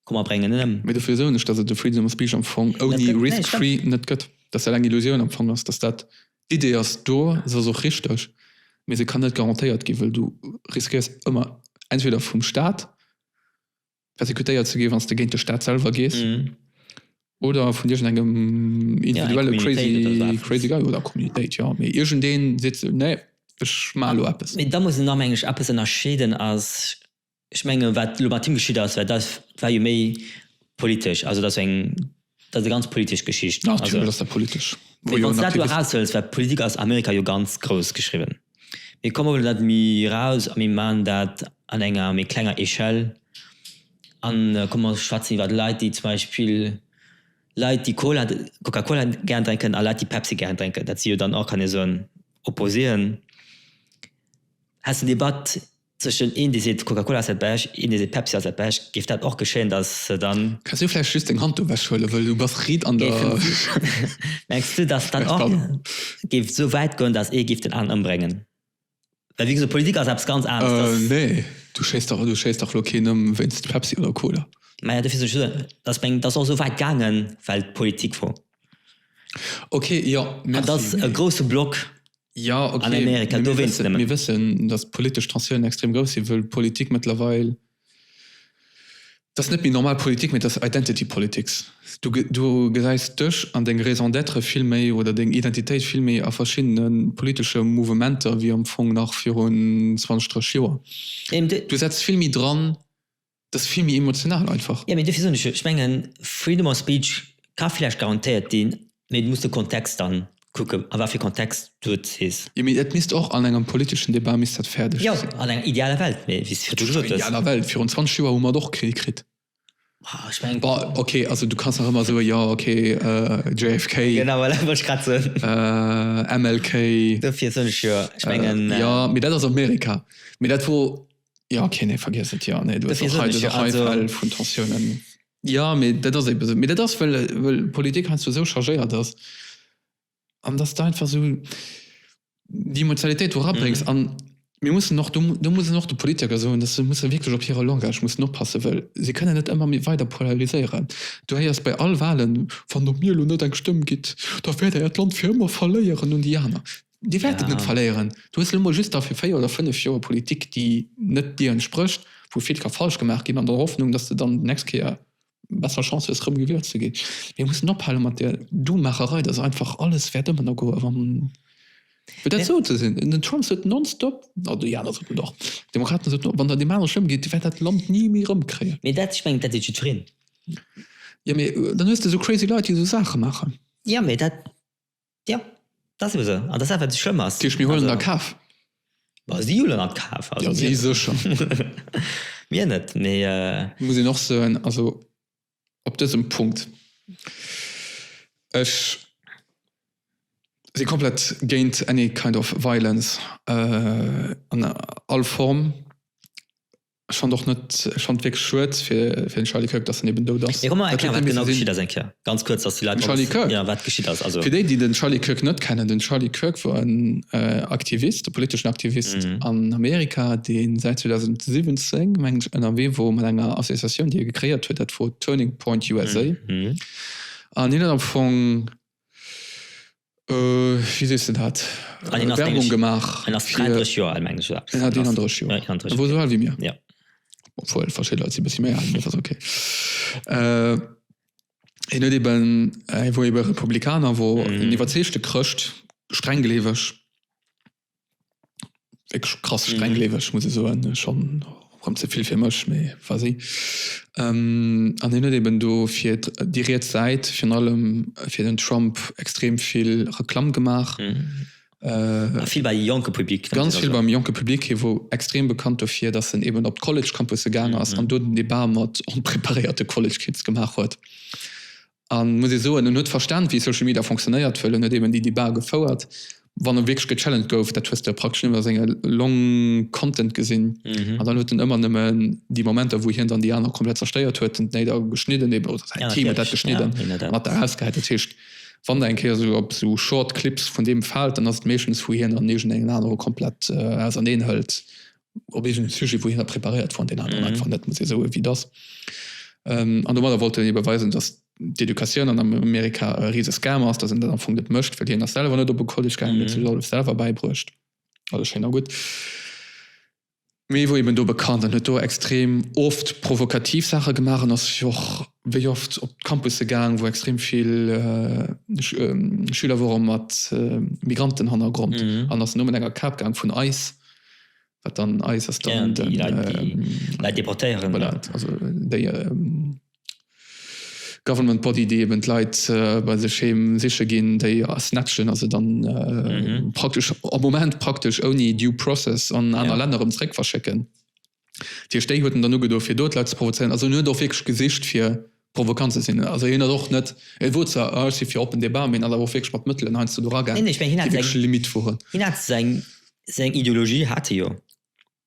komm mer bréngen en ëm. Mee dofir soen ech, dass et de Freedom of Speech am Fong ouni Risk Free net gëtt. Dass dat eng Illusioun am Fong ass. Dass dat, d'Idee ass do, se ass och richteg, mee se kann net garantéiert ginn, wëll du riskéiers ëmmer entweder vum Staat, persekutéiert ze ginn, wann s de géint de Staat selwer gees oder vun iergendengem individuelle crazy crazy guy oder Communitéit, jo, mee iergendee seet sou, nee, ech maache elo eppes. Mee da muss een da, meng ech, eppes ënnerscheeden as, ech menge wat elo mat him geschitt as, well dat war jo méi politesch, also dat war eng. Dat ass eng ganz politesch Geschicht. Natierlech ass dat politesch. Mee wann s de dat do eraushëls, well d'Politik ass Amerika jo ganz grouss geschriwwen. Mee komm mer huelen dat méi eraus a mir maachen dat an enger méi klenger Echelle a komm mer schwätzen iwwer Leit, déi zum Beispill, Leit, déi Cola, Coca Cola gär drénken a Leit, déi Pepsi gär drénken. Dat si jo dann och, kann ee soen, Opposén. Häss de en Debat Tëschen een dee seet Coca-Cola ass dat Bescht, een dee seet Pepsi ass dat Bescht, géif dat och geschéien, datt se dann. Kanns du vläicht just deng Hand do ewech huelen, wëll du bass riit an der. Mengs du, datt dat och géif esou wäit goen, datt ee géif den aneren ëmbréngen? Well wéi gesot, Politik ass eppes ganz aneres. Nee, du schéisst dach, du schéisst dach elo keen ëm wéinst Pepsi oder Cola. Majo, dofir soen ech jo, datt ass och esou wäit gaangen, well d'Politik vum. Ok, jo, merci. Et ass e grousse Block an Amerika, dowéinst nëmmen. Mir wëssen, datt d'politesch Tensiounen extrem grouss sinn, wëll d'Politik mëttlerweil, et ass net méi normal Politik, mee et ass Identity politics. Du gesäis dech an deng Raison d'être vill méi oder deng Identitéit vill méi a verschiddene politesche Mouvementer wéi am Fong nach virun 20, 30 Joer. Du setz vill méi dran, Dat ass vill méi emotional einfach. Jo, mee dofir soen ech jo, ech mengen, Freedom of speech ka villäicht garantéiert ginn, mee du muss de Kontext dann kucken, a wat fir Kontext du et sees. Jo, mee dat misst och an engem politeschen Debat misst dat fäerdeg Jo, sinn. an enger idealer Welt, mee wéi s de virdu gesot hues. Idealer Welt, virun 20 Joer hu mer et och krill kritt. Ah, ech mengen. Bon, ok, also du kanns nach ëmmer soe jo, ok, JFK, Genau, voilà, wollt ech grad soen. MLK. Dofir soen ech jo, ech mengen. Jo, mee dat ass Amerika. Mee dat wor. Ja okay, nee, vergiess et, ja, nee, du hast auch heute, auch heute Fälle von Tensionen. Ja, mir dat ass eben so. Mir dat ass, well, well Politik heinsdo so chargéiert ass an dass du einfach so die Emotionalitéit do rabréngs mhm. an mir mussen noch du, du muss noch de Politiker soen, dass se muss wirklich op hire Langage muss noch passe well se kënne net ëmmer mir weiter polariséieren. Du héiers bei all Wahlen van op mir lo net eng Stëmm gitt, da fährt er Land fir ëmmer verléieren und Diana. Dir wäert et net verléieren. Du hues elo emol just da fir véier oder fënnef Joer e Politik, déi net dir entsprécht, wou vill ka falsch gemaach ginn, an der Hoffnung, dass de dann déi nächst Kéier besser Chance hues, erëm gewielt ze ginn. Mir mussen ophale mat där Dumaacherei, dass einfach alles wäert ëmmer no goen, wa fir dat esou ze sinn. Den Trump sot nonstop, oder déi aner soten dat och, d'Demokraten soten och, wann der deem anere schlëmm geet, Dir wäert dat Land ni méi erëmkréien. Mee dat, ech mengen, dat seet jiddwereen. Jo, mee dann hues de esou crazy Leit, déi esou Saache maachen. Jo, mee dat Ja, dat ass ebe sou. An dat ass dat, wat esou schlëmm ass. Dat heescht, mir huelen der kaf? Bah, si huelen der kaf. Also, mir. Ja, si sécher. mir net, mee. Et muss een och soen, also op dësem Punkt, ech si komplett géint any kind of violence an all Form. Ech fand och net, ech fand wierklech schued fir den Charlie Kirk dass en eben dout ass. Mir rem mer erklären wat genau geschitt ass eng Kéier ganz kuerz dass déi Leit och wëssen jo wat geschitt ass also. Fir déi déi den Charlie Kirk net kennen, den Charlie Kirk wor en Aktivist, e politeschen Aktivist an Amerika deen säit 2017 mengen ech ënnerwee wor mat enger Associatioun déi e gecréiert huet dat wor Turning Point USA an hien huet am Fong Wéi sees de dat? Werbung gemaach fir. En ass 33 Joer al, mengen ech. En ass 31 Joer. En ass esou al wéi mir. Jo. Obwuel, verschidde Leit si bëssi méi al, mee dat ass ok. Hien huet eben, hie wor ebe Republikaner, wor en iwwerzeegte Chrëscht, strenggleeweg. wierklech krass strenggleeweg, muss ech soen, schonn rëm ze vill fir mech, mee vas-y. An hien huet eeben do fir déi riets Säit, virun allem fir den Trump, extrem vill Reklamm gemaach. Vill bei jonke Public. Ganz vill beim jonke Public. Hie wor extrem bekannt dofir, datt en eeben op d'College-Campusse gaangen ass an do den Debat mat onpreparéierte College-Kids gemaach huet. An, muss ee soen, en huet verstan, wéi Social Media fonctionnéiert, wëll en huet eben déi Debat gefouert, wann e wierklech gechallenged gouf, dat hues de jo praktesch nëmmen a senge long content gesinn. An dann huet en ëmmer nëmmen déi Momenter, wou hien dann déi aner komplett zerstéiert huet, den Tnate geschnidden eben, oder säin Team huet dat geschnidden an hat dat erausgehäit. Dat heescht, wann Der eng Kéier esou op esou Short Clips vun deem faalt, dann ass et meeschtens, wou hien an iergendengem anere komplett auserneen hëlt op eegene Sujet, wou hien preparéiert fond, deen aneren einfach net, muss ee soe wéi et ass. An domadder wollt hien ebe weisen, datt d'Educatioun an Amerika e rise Scam ass, datt een dat am Fong net mécht, well hien ass selwer net op e College gaangen, huet sech alles selwer bäibruecht. Alles schéin a gutt, mee e wor eben do bekannt an huet do extrem oft provokativ Saache gemaach an ass och wéi oft op d'Campusse gaang, wou extrem vill Schüler wore mat Migrantenhannergrond an ass elo mat enger Kap gaang vun ice. Wat dann eis ass dann. Ja, déi Leit, déi ähm, Leit deportéieren. Voilà, also déi ähm, Government Body, déi eben d'Leit äh, bei sech heem siche ginn, déi snatchen also dann äh, mhm. praktesch am Moment praktesch ouni Due Process an aner ja. Länner um zréck verschécken. Tiersch déi huet en dann ugedo fir do d'Leit ze provozéieren. Also en huet och wierklech gesicht fir provokant ze sinn. Also hien ass och net, e wor zwar, ah ech si fir oppen Debat, mee en ass awer och wierklech mat Mëttelen heiansdo do eragaangen, déi wierklech Limitt woren. Hien hat seng Ideologie, hat e jo.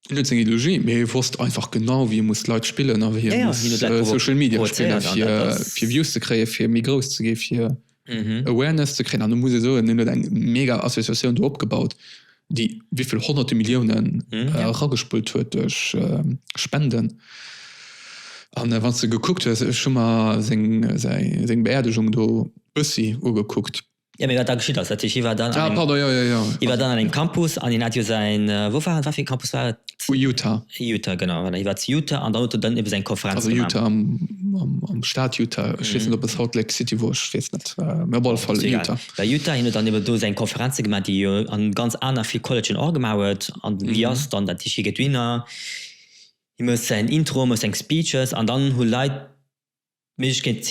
Hien huet seng Ideologie, mee e wosst einfach genau wéi e muss d'Leit spillen a wéi e muss Social Media spillen, fir Views ze kréien, fir méi grouss ze ginn, fir. Awareness ze kréien an ech muss ee soen, hien huet eng mega Associatioun do opgebaut, déi wéivill honnerte Milliounen eragespullt huet duerch Spenden. An wann s de gekuckt hues, ech hu mer seng, säi, seng Beerdegung do bëssi ugekuckt. Jo, mee wat da geschitt ass, dat heesch, hie war dann an engem, hie war dann an engem Campus an hien hat jo säin, wou war en, wat fir ee Campus war et? Vu Utah. Utah genau voilà hie war zu Utah an dann huet en dann ewes eng Konferenz gemaach. Also Utah am am Staat Utah, ech weess net op et Salt Lake City wor, ech weess net mee op alle Fall Utah. Bei Utah hien huet dann ebe do seng Konferenze gemaach déi hie an ganz aner vill Collegën och gemaach huet an déi ass dann dat hie gëtt Winner, hie mécht säin Intro, mécht seng Speeches an dann hu Leit D'Méiglechkeet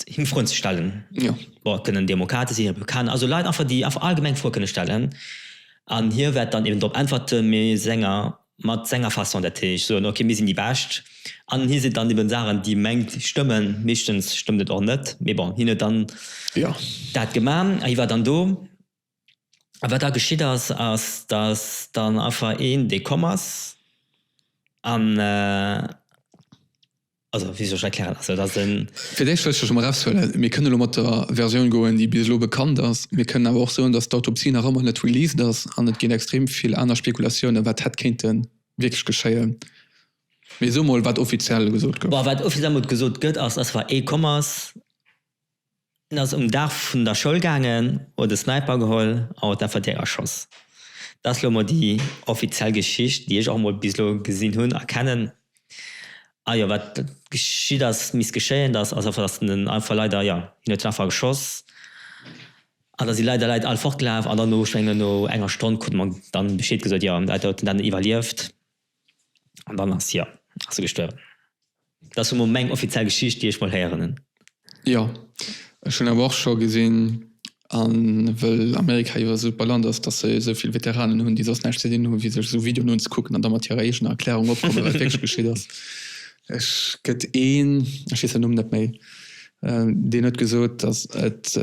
him Froen ze stellen, jo kënnen Demokrate sinn, Republikaner, also Leit einfach déi einfach allgemeng Froe kënne stellen an hie wäert dann eben drop äntwerte mee senger, mat senger Façon. Dat heescht soen ok mir sinn déi Bescht an hie seet dann eben Saachen déi mengt stëmmen, meeschtens stëmmt et och net mee bon hien huet dann dat geman a hie war dann do. A wat da geschitt ass, ass, datt dann einfach een, dee komm ass an, also wéi soll ech erklären, also datt en. Fir d'éischt wëll ech elo mol eraushuelen, mir kënnen elo mat der Versioun goen, déi bis elo bekannt ass. Mir kënnen awer och soen, datt d'Autopsie nach ëmmer net released ass an et ginn extrem vill aner Spekulatiounen, wat hätt kéinte wierklech geschéien. Mee soe mol, wat offiziell gesot gouf. Bon, wat offiziell mol gesot gëtt, ass, datt einfach ee komm ass. Hien ass um Daach vun der Schoul gaangen, huet e Sniper geholl a huet einfach direkt erschoss. Dat ass elo mol déi offiziell Geschicht, déi ech och mol bis elo gesinn hunn a kennen. A jo, wat geschitt ass, misst geschéien. Dat ass einfach, dass en einfach leider, jo, hien huet einfach geschoss an da si leider Leit all fortgelaf. An dann no, ech mengen, no enger Stonn krut mer dann Bescheed gesot, jo, dat huet en dann iwwerlieft. An dann ass, jo, ass e gestuerwen. Dat ass emol meng offiziell Geschicht, déi ech mol héieren hunn. Jo, ech hunn awer och scho gesinn, a wëll Amerika jo e super Land ass, dass se esou vill Veteranen hunn, déi soss näischt ze dinn hunn, wéi sech esou Videoen unzekucken an da mat hirer eegener Erklärung opkommen, wat wierklech geschitt ass. Ech gëtt een, ech weess säin Numm net méi, deen huet gesot, dass et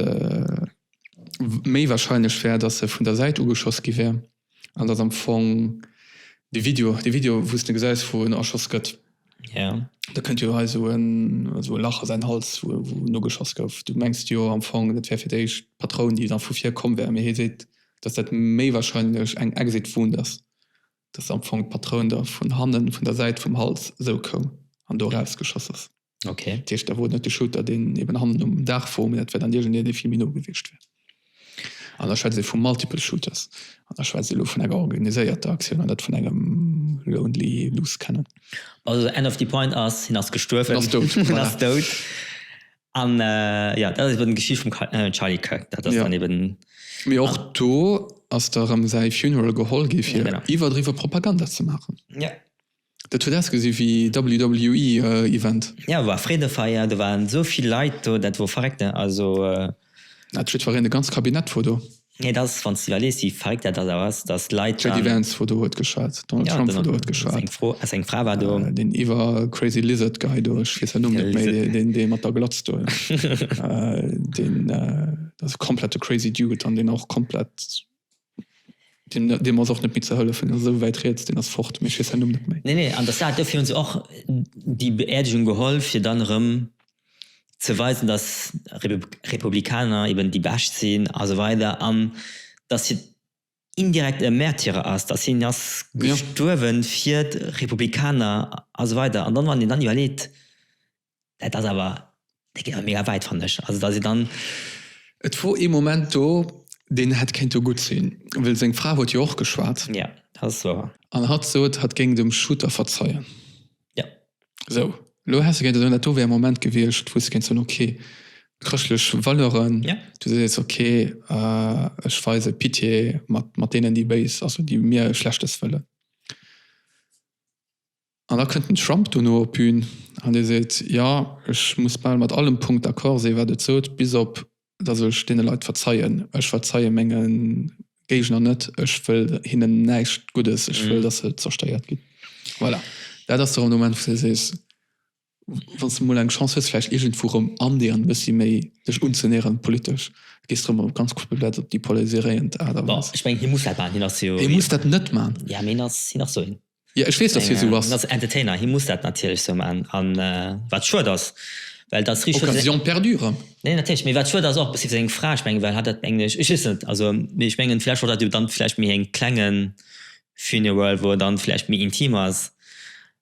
méi warscheinlech wär, dass e vun der Säit ugeschoss gi wär, An dat am Fong de Video, de Video wou s de gesäis wou en erschoss gëtt. Yeah. Da kënnt jo hei sou en sou e Lach a säin Hals wou wou nogeschoss gouf. Du mengs jo am Fong dat wär fir d'éischt d'Patroun déi dann vu vir komm wär, mee hie seet dass dat méi wahrscheinlech eng Exit Wound ass, dass am Fong d'Patroun da vun hannen, vun der Säit vum Hals esou koum an do eraus geschoss ass. Okay. Dat heescht, da wor et net de Shooter, deen eben hannen um Daach wor, mee dat wär dann iergendeen, dee vill méi no gewiescht wär. An da schwätzt ee vu multiple shooters. An da schwätzt ee elo vun enger organiséierter Aktioun an net vun engem lonely loose cannon. Also the end of the point ass, hien ass gestuerwen. Hien ass dout. Hien ass dout. An jo, dat ass eben d'Geschicht vum Charlie Kirk. Dat ass dann eben. Mee och do ass da erëm säi Funeral geholl gi fir iwwerdriwwe Propaganda ze maachen. Dat huet ausgesi wéi WWE Event. Jo war Freedefeier, do waren sou vill Leit do, dat wor verréckt ne also. Hat jiddfereen e ganz Cabinet vor do? Nee dat ass wanns de iwwerlees wéi verréckt dat ass awer ass dass Leit dann. JD Vance vor do huet geschwat, Donald Trump vor do huet geschwat. Seng Fro, seng Fra war do. Deen iwwer crazy lizard guy do, ech weess säin Numm net méi, deen dee mat der Glatz do, deen dat ass e komplette crazy dude an deen och komplett. Deen, deem ass och net méi ze hëllefen, deen ass esou wäit riets, deen ass fort, mee ech weess säin Numm net méi. Nee, nee, an der Stad, dofir hu se och déi Beerdigung geholl, fir dann erëm ze weisen, dass Republikaner eben déi Bescht sinn a sou weider an dass hien indirekt e Märtyrer ass, dass hien ass gestuerwen fir d'Republikaner a sou weider. An dann, wann een dann iwwerleet, dat ass awer, dat geet awer mega wäit fannen ech. Also da si dann. Et wor ee Moment do, deen hätt kéinte gutt sinn, well seng Fra huet jo och geschwat. Ja, dat ass wouer. An hatt sot, hatt géing dem Shooter verzeien. Ja. Sou, elo häss de géinte soen, dat do wär e Moment gewiescht, wou s de géints soen, ok, chrëschtlech Valeuren. Ja. Du sees jetzt, ok, ech weise Pitié mat, mat deenen, déi béis, also déi mir Schlechtes wëllen. An da kënnt den Trump dono op d'Bün an dee seet, jo, ech muss bal mat allem Punkt d'accord sinn, wat et sot, bis op datt ech deene Leit verzeien. Ech verzeie menge Géigner net, ech wëll hinnen näischt Guddes, ech wëll, datt se zerstéiert ginn. Voilà, dat ass de Renouvellement, wou s de sees, Wann s de mol eng Chance hues, vläicht iergendwou rëm andéieren, e bëssi méi dech unzenäheren politesch, gees de rëm op ganz kuerze Plaz op déi polariséiréiend Aart a Bon, Weis. ech mengen, hie muss dat maachen, hien ass jo. Hie muss dat net maachen. Jo, mee hien ass, hien ass sou een. Jo, ech weess, dass hie sou ass. Hien ass Entertainer, hie muss dat natierlech sou maachen. A wat schued ass, well et ass richteg schued. Occasion perdue rëm. Nee, natierlech, mee wat schued ass och e bëssi fir seng Fra, ech mengen, well hatt dat, mengen ech, ech weess et net, also, mee ech mengen, vläicht wollt hatt jo dann vläicht méi en klengen Funeral, wou et dann vläicht méi intim ass,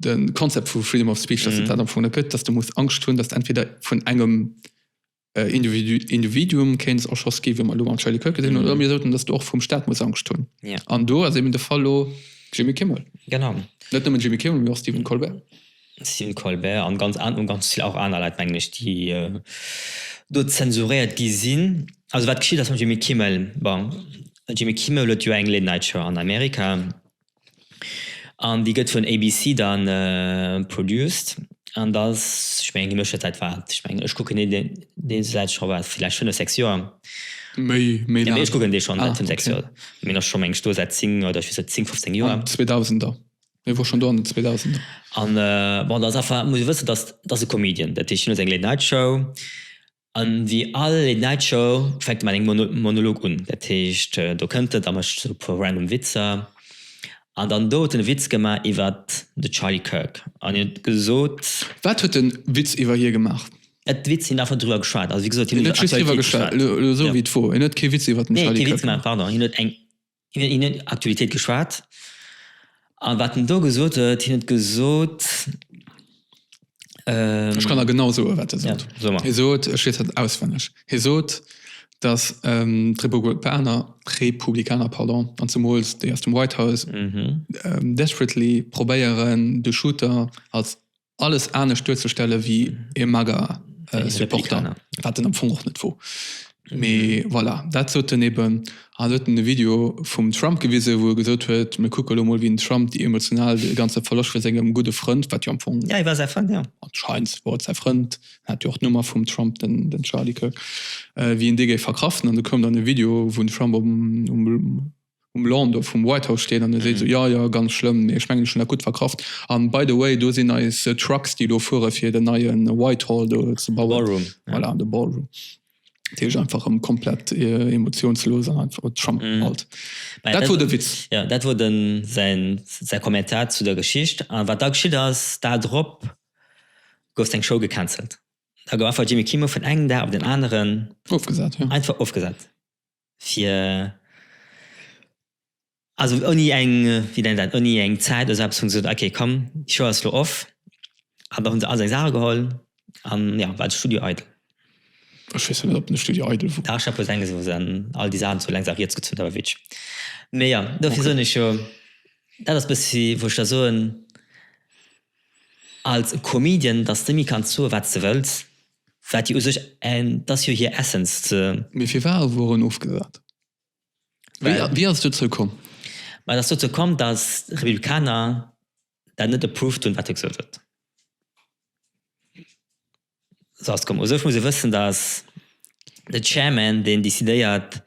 den Konzept vu Freedom of Speech, dass mm. dat am Fo gëtt, dass du muss Angst hunn, dass entweder vun engem äh, Individu Individuum kéins och schoss gi, man lo an Charlie Kirk gesinn mm. oder mir soten, dass du och vum Staat muss Angst hunn. Yeah. An do ass eben de Fall lo Jimmy Kimmel. Genau. Net nëmmen Jimmy Kimmel, mir och Stephen Colbert. Stephen Colbert an ganz an ganz viel auch aner Leiit englisch die äh, do zensuriert gi sinn. Also wat geschieet ass Jimmy Kimmel bon, Jimmy Kimmel huet jo eng Late Night Show an Amerika An déi gëtt vun ABC dann produced. An ass, ech mengen, déi mécht dat säit wat, ech mengen, ech kucken dee dee säit scho wat, villäicht fënnef, sechs Joer. Méi, méi laang. Ech kucken dee schonn säit fënnef, sechs Joer. Mee en ass scho, meng ech, do säit zéng oder ech weess net, zéng, fëfzéng Joer. An den Zweedausender. E wor schonn do an den Zweedausender. An bon, dat ass einfach, muss ee wëssen, dat ass e Comedian. Dat heescht, hien huet seng Late Night Show. A wéi all Late-Night-Show fänkt e mat engem Monolog un. Dat heescht, do kënnt et a mécht sou e puer random Witzer. An dann do huet en e Witz gemaach iwwer de Charlie Kirk an hien huet gesot. Wat huet en Witz iwwer hie gemaach? Et Witz, hien huet einfach driwwer geschwat. Also wéi gesot, hien huet iwwer d'Aktualitéit geschwat. Elo esou wéi d'Fro, hien huet kee Witz iwwer den Charlie Kirk gemaach. Nee, kee Witz gemaach, pardon. Hien huet eng. Hien huet iwwer Aktualitéit geschwat. A wat en do gesot huet, hien huet gesot. Ech kann der genau soen, wat e sot. Ja, so emol. Hie sot, ech weess dat auswenneg, hie sot, datt d'Republikaner, d'Republikaner, pardon, an zemools déi aus dem White House, desperately probéieren, de Shooter als alles anescht duerzestelle wéi e Mager-Supporter, wat en am Fong och net wor. Mee voilà, dat sot en eben an huet en e Video vum Trump gewisen, wou e gesot huet, mir kucke lo mol, wéi den Trump déi emotional, dee ganze Verloscht vu sengem gudde Frënd, wat jo am Fong, Ja, hie war säi Frënd, ja. anscheinend wor et säi Frënd, en hat jo och d'Nummer vum Trump, den Charlie Kirk, wéi en dee géif verkraften. An du koum dann e Video, wou den Trump um um Lawn do vum White House stinn an e seet esou, jo, jo, ganz schlëmm, mee ech mengen, ech hunn dat gutt verkraft. An by the way, do sinn eis Trucks, déi elo fuere fir den neie Whitehall do ze bauen. Ballroom. Voilà, de Ballroom. Dat heescht einfach erëm komplett emotionslos an einfach Trump alt. Mä Dat wor de Witz. Jo, dat wor de säin, säi Kommentar zu der Geschicht. A wat da geschitt ass, d'Dar drop gouf seng Show gecancelt. Da gouf einfach Jimmy Kimmel vun engem Dag op den aneren. Ofgesat, jo. Einfach ofgesat. fir also ouni eng wéi nennt dat ouni eng Zäit oder esou eppes hunn se gesot ok komm d'Show ass elo off an da hunn se all seng Saache geholl an jo war de Studio eidel. Ech weess net op den Studio eidel wor. Dach Chapeau Sänges wou se dann all déi Saachen zu lenks a riets gezunn hunn mee jo dofir soen ech jo dat ass bëssi wou ech da soen als Comedian datt s de méi kanns soe wat s de wëlls. Wat jo u sech en, 't ass jo hir Essence, ze. Mee firwat ass Woren ofgesat? Well. Wéi ass et dozou komm? Ma et ass dozou komm, datt d'Republikaner dat net approved hunn, wat hie gesot huet. Esou ass et komm. U sech muss ee wëssen, datt de Chairman deen decidéiert,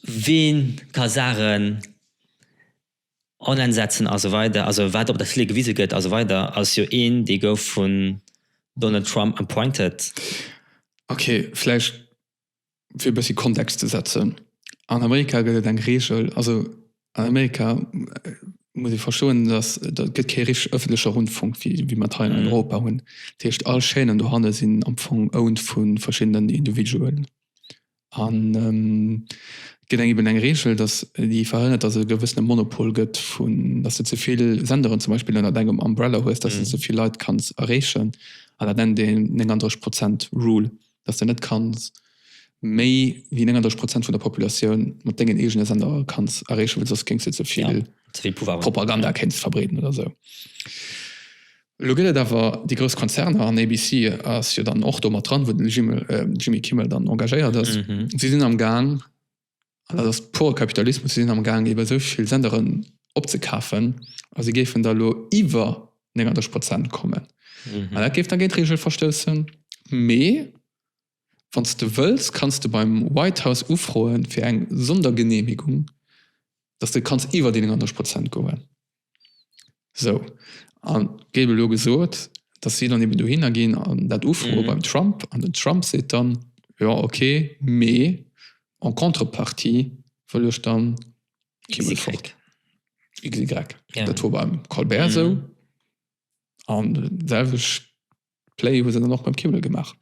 wien ka Saachen Online setzen a sou weider, also wat op der Tele gewise gëtt a sou weider, ass jo een dee gouf vun Donald Trump appointed. Ok, vläicht fir e bëssi Kontext ze setzen, an Amerika gëtt et eng Reegel, also an Amerika muss ee verstoen, datt et gëtt kee richteg ëffentleche Rundfunk wéi mer et hei an Europa hunn. Dat heescht all Chaînen dohanne sinn am Fong owned vu verschiddenen Individualen. An et gëtt eben eng Reegel, dass déi verhënnert, dass et e gewëssene Monopol gëtt vun, dass de ze vill Senderen zum Beispill ënnert engem Umbrella hues, dass de ze vill Leit kanns erreechen. An dat nennt een 39 Prozent Rule, dass de net kanns méi wéi 39 Prozent vun der Populatioun mat dengen eegene Sendere kanns erreechen, well soss kéins de ze vill Propaganda kéins verbreeden oder esou. Elo gëtt et awer déi grouss Konzerner, an ABC ass jo dann och do mat dran, wou de Jimmy Kimmel dann engagéiert ass, si sinn am Gaang, an dat ass pure Kapitalismus, si sinn am Gaang iwwer esou vill Senderen opzekafen a si géifen da elo iwwer 39 Prozent kommen. An dat géif da géint d'Reegel verstoussen, mee Wann s de wëlls, kanns de beim White House ufroe fir eng Sondergenehmigung, dass de kanns iwwer déi 39 Prozent goen. Sou, a géif elo gesot, dass si dann eben dohinner ginn an dat ufroe beim Trump, an den Trump seet dann, jo okay, mee en contrepartie wëll ech dann kee Mënsch fort. XY. Dat wor beim Colbert esou, an d'selwecht Play hu se dann och beim Kimmel gemaach.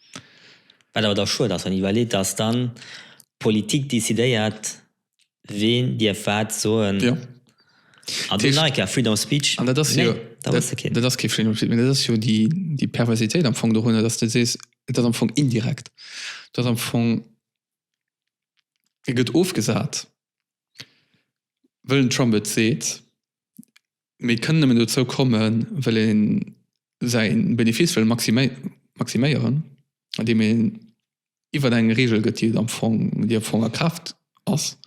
Wat awer da schued ass, wann ee iwwerleet, dass dann d'Politik décidéiert, ween dierf wat soen. Jo. An do nach eng Kéier Freedom of Speech, nee, da hues de keen. Dat ass kee Freedom of Speech, mee dat ass jo déi Perversitéit am Fong dorunner, dass de sees, et ass am Fong indirekt. Et ass am Fong, e gëtt ofgesat, wëll den Trump et seet. Mee et kënnt nëmmen dozou kommen, well ee säi Benefice wëll maximéieren, andeem een iwwert eng Reegel gëtt, déi am Fong, déi am Fong a Kraaft ass,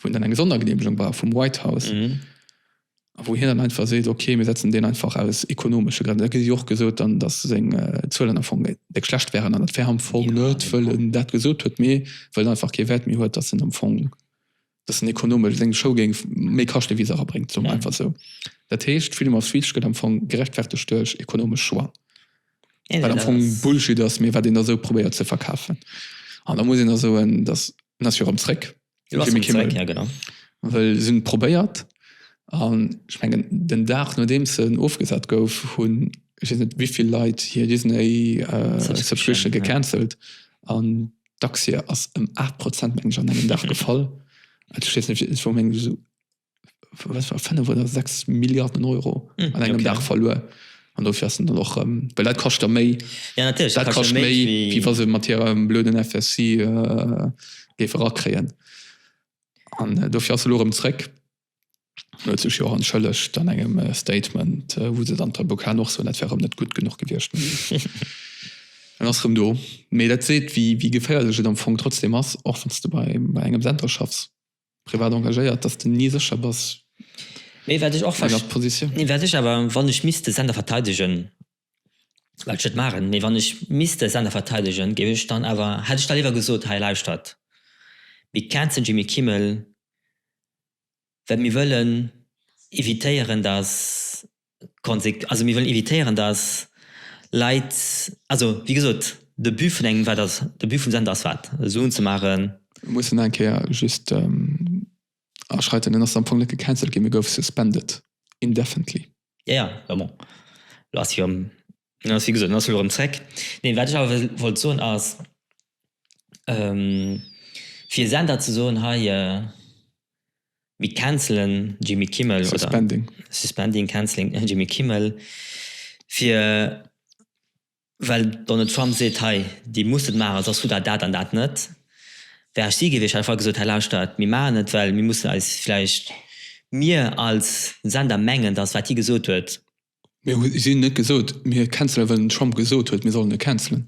wou een dann eng Sondergenehmegung brauch vum White House a wou hien dann einfach seet, ok, mir setzen deen einfach aus ekonomesche Grënn. Et gëtt jo och gesot dann, datt seng Zuelen am Fong déck schlecht wären, an dat wär am Fong net, wëll en dat gesot huet, mee wëll en einfach kee Wäert méi huet, datt en am Fong. dass en ekonomesch seng Show géing méi kaschte wéi se erabréngt, soe mer einfach esou. Dat heescht, Freedom of Speech gëtt am Fong gerechtfertegt duerch ekonomesch Choix. Eben, wat am Fong ass... Bullshit ass, mee wat een da esou probéiert ze verkafen. An da muss een da soen, dass, en ass jo erëm zréck, den Jimmy Kimmel. Ja, genau. Well se hunn et probéiert. An ech mengen, den Dag nodeems en ofgesat gouf, hunn ech weess net wéi vill Leit hir Disney-Subscription gecancelt. An D'Aktie ass ëm 8 Prozent meng ech an engem Dag gefall. Also, ich weiß nicht, es war meng so, was war 5 oder 6 Milliarden Euro mm, an engem okay. Dag verluer. An dofir ass dann och ähm, well dat kascht der méi. Ja natürlich dat kascht méi wie, wie was mat hier ähm, blöden FSC äh, géif erakréien. An äh, dofir ass lo rëm zréck. huet sech jo och entschëllegt an engem Statement, wou se dann d'Avocaten och soen, dat wär erëm net gutt genuch gewiescht. En ass erëm do. Mee dat seet, wéi geféierlech et am Fong trotzdeem ass, och wann s de bei engem Center schaffs, privat engagéiert, dass de ni sécher bass bei enger Positioun. Wat ech awer, wann ech misst de Center verteidegen, well ech et maachen, mee wann ech misste Sender verteidegen, géif ech dann awer, hätt ech da léiwer gesot, hei lauschtert, mir känzen Jimmy Kimmel, well mir wëllen evitéieren, dass d'Konse, also mir wëllen evitéieren, dass Leit, also wéi gesot, de But vun engem, wat ass, de But vum Sender ass wat? Suen ze maachen. Ech muss nach eng Kéier just aschreiten, en ass am Fong net gecancelt ginn, e gouf suspended indefinitely. Ja, ja, ma bon, elo ass si jo, elo ass, wéi gesot, elo ass se erëm zréck. Nee, wat ech awer wollt soen ass, fir e Sender ze soen, hei, mir cancelen Jimmy Kimmel oder. Suspending. Suspending, canceling Jimmy Kimmel, fir well Donald Trump seet, hei dir musst et maachen, soss kritt der dat an dat net, wär ech si gewiescht, hätt ech einfach gesot, hei lauschtert, mir maachen et, well mir mussen eis vläicht, mir als Sender mengen, datt wat hie gesot huet. Mir hu si net gesot, mir cancelen, well den Trump gesot huet, mir sollen e cancelen.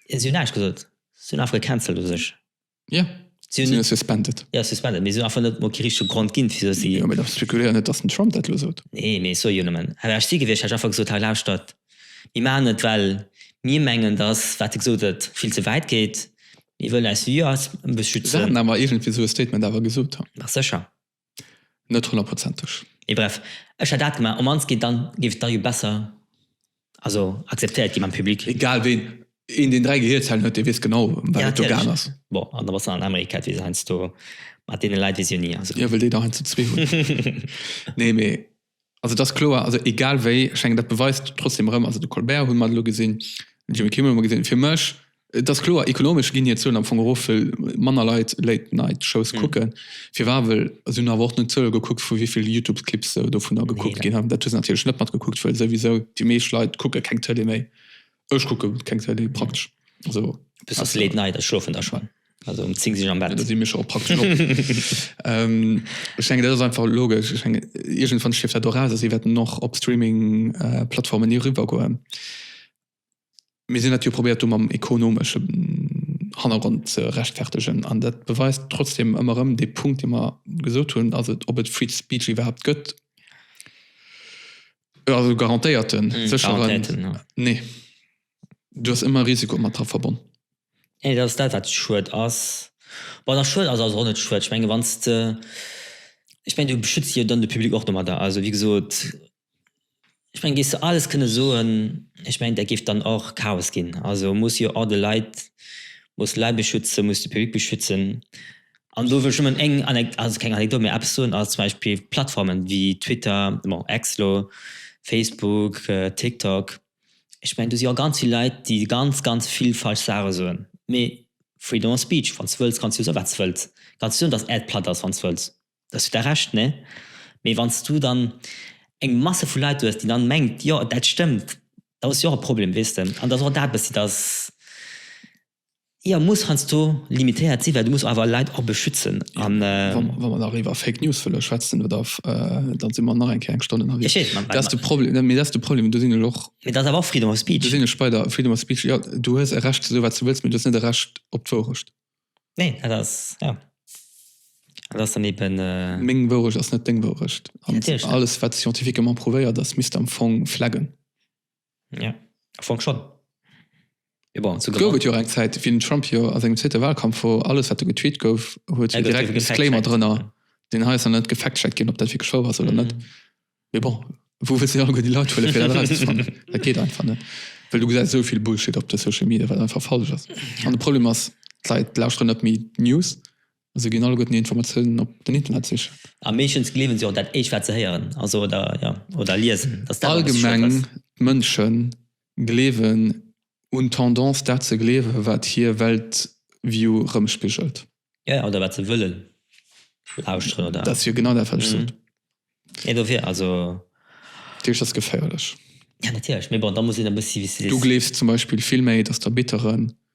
Si hunn näischt gesot, si hunn einfach gecancelt u sech. Ja. Si hunn net suspended. Ja, suspended, mee si hunn einfach net emol kee richtege Grond ginn, wisou si. Jo, mee da spekuléier net, datt den Trump dat elo sot. Nee, mee ech soe jo nëmmen, Hätt ech si gewiescht, hätt ech einfach gesot, hei lauschtert, mir maachen et, well mir mengen, datt, wat e gesot huet, vill ze wäit geet. Mir wëllen eis Viewers e bësse schützen. Si hätten awer iergendwéi esou e Statement awer gesot. Sécher. Net honnertprozenteg. Mee bref, ech hätt dat gemaach. Op mannst géif dann, géif et dann jo besser, also akzeptéiert gi mam Public. Egal ween, een deen 3 Gehierzellen huet, dee weess genau ëm wat et do gaang ass. Bon, an da bass de an Amerika, dat weess een heiansdo mat deene Leit, weess een jo ni. Jo, well déi der heiansdo zwee hunn. Nee, mee Also et ass kloer, also egal wéi, ech mengen dat beweist trotzdem erëm, also de Colbert hu mer elo gesinn, den Jimmy Kimmel hu mer gesinn, fir mech, et ass kloer, ekonomesch ginn hir Zuelen am Fong erof, well manner Leit Late Night Shows kucken. Firwat? Well se hunn awer och net d'Zuele gekuckt vu wéi vill Youtube Clips se dovunner gekuckt ginn. Dat hu se natierlech net matgekuckt, well souwisou déi meescht Leit kucke keng Tëlee méi. Ech kucke keng Tele praktesch. Also, Bis op Late Night, ech schlofen da schonn. Also um 10 si ech am Bett. Da si mir scho praktesch op. ähm, ech denken, dat ass einfach logesch. Ech denken, iergendwann stierft dat och aus a si wäerten och op Streaming-Plattformen äh, ni eriwwer goen. Mir sinn dat jo probéiert do mam ekonomesche Hannergrond ze rechtfertegen. An dat beweist trotzdem ëmmer erëm dee Punkt, dee mer gesot hunn, also ob et Free Speech iwwerhaapt gëtt, Also garantéierten, mm, sécheren. Garantéierten, ja. Nee. Du hast ëmmer Risiko mat dra verbonn. Nee, dat ass dat, wat schued ass. Bon, nach schued ass also och net schued. Ech menge wann s de, ech meng du beschütze jo dann de Public och domadder. Also wéi gesot, ech meng géifs de alles kënne soen, ech meng dat géif dann och Chaos ginn. Also muss jo och de Leit, muss d'Leit beschützen, muss de Public beschützen. An do wëll ech nëmmen eng Anekdot, also keng Anekdot, mä eppes soen, als zum Beispill Plattformen wéi Twitter, bon Ex elo, Facebook, TikTok, ech mengen do si jo ganz vill Leit déi ganz ganz vill falsch Saache soen, mee Freedom of speech, wann s wëlls kanns du soe wat s wëlls, kanns du soen datt d'Äerd platt ass wann s wëlls, do hues du dach Recht, ne? Mee wann s du dann eng Masse vu Leit hues déi dann mengt jo dat stëmmt, da hues du jo och e Problem, weess de? An dat ass och dat e bëssi, datt Jo, muss heiansdo limitéiert sinn, well du muss awer Leit och beschützen an. Wa mer nach iwwer Fake News wëlle schwätzen oder da si mer nach eng Kéier eng Stonn ënnerwee. Dat ass de Problem, mee dat ass de Problem, do sinn ech och. Mee dat ass awer och Freedom of Speech. Do sinn ech bei der Freedom of Speech. Jo, du hues e Recht ze soe wat s de wëlls, mee du hues net e Recht op d'Wourecht. Nee, dat ass, jo, dat ass dann eben. Meng Wourecht ass net deng Wourecht. Natierlech net. An alles wat scientifiquement prouvéiert ass, misst am Fong flaggen. Ja, am Fong schon. Mee bon, zu Gouf Gramma. et jo och eng Zäit, wéi den Trump jo a sengem zweete Wahlkampf, wou alles, wat do getweet gouf, huet Ja, hie gouf direkt ierwe en Disclaimer gefact-checkt. drënner, deen hei ass nach net gefact-checkt ginn, ob dat wierklech wouer ass oder net. Mhm. Mee bon, wou wëlls de alleguer déi Leit huelen, fir dat erauszefannen? Dat geet einfach net, well du gesäis esou vill Bullshit op de Social Media, wat einfach falsch ass. An de Problem ass, d'Leit lauschteren net méi d'News, Se ginn alleguerten hir Informatiounen op den Internet sichen. A meeschtens gleewen se och dat éischt, wat se héieren, also oder, jo, oder liesen. Allgemeng Mënsche gleewen, hunn d'Tendance, dat ze gleewen, wat hir Weltview erëmspigelt. Jo, jo, oder wat se wëllen lauschteren, oder? Dat ass jo genau dat, wat ech sot. Et dofir, also. Dat heescht, dat ass geféierlech. Jo, natierlech. Mee bon, da muss een e bëssi. Du gleefs zum Beispill vill méi, dass d'Arbitteren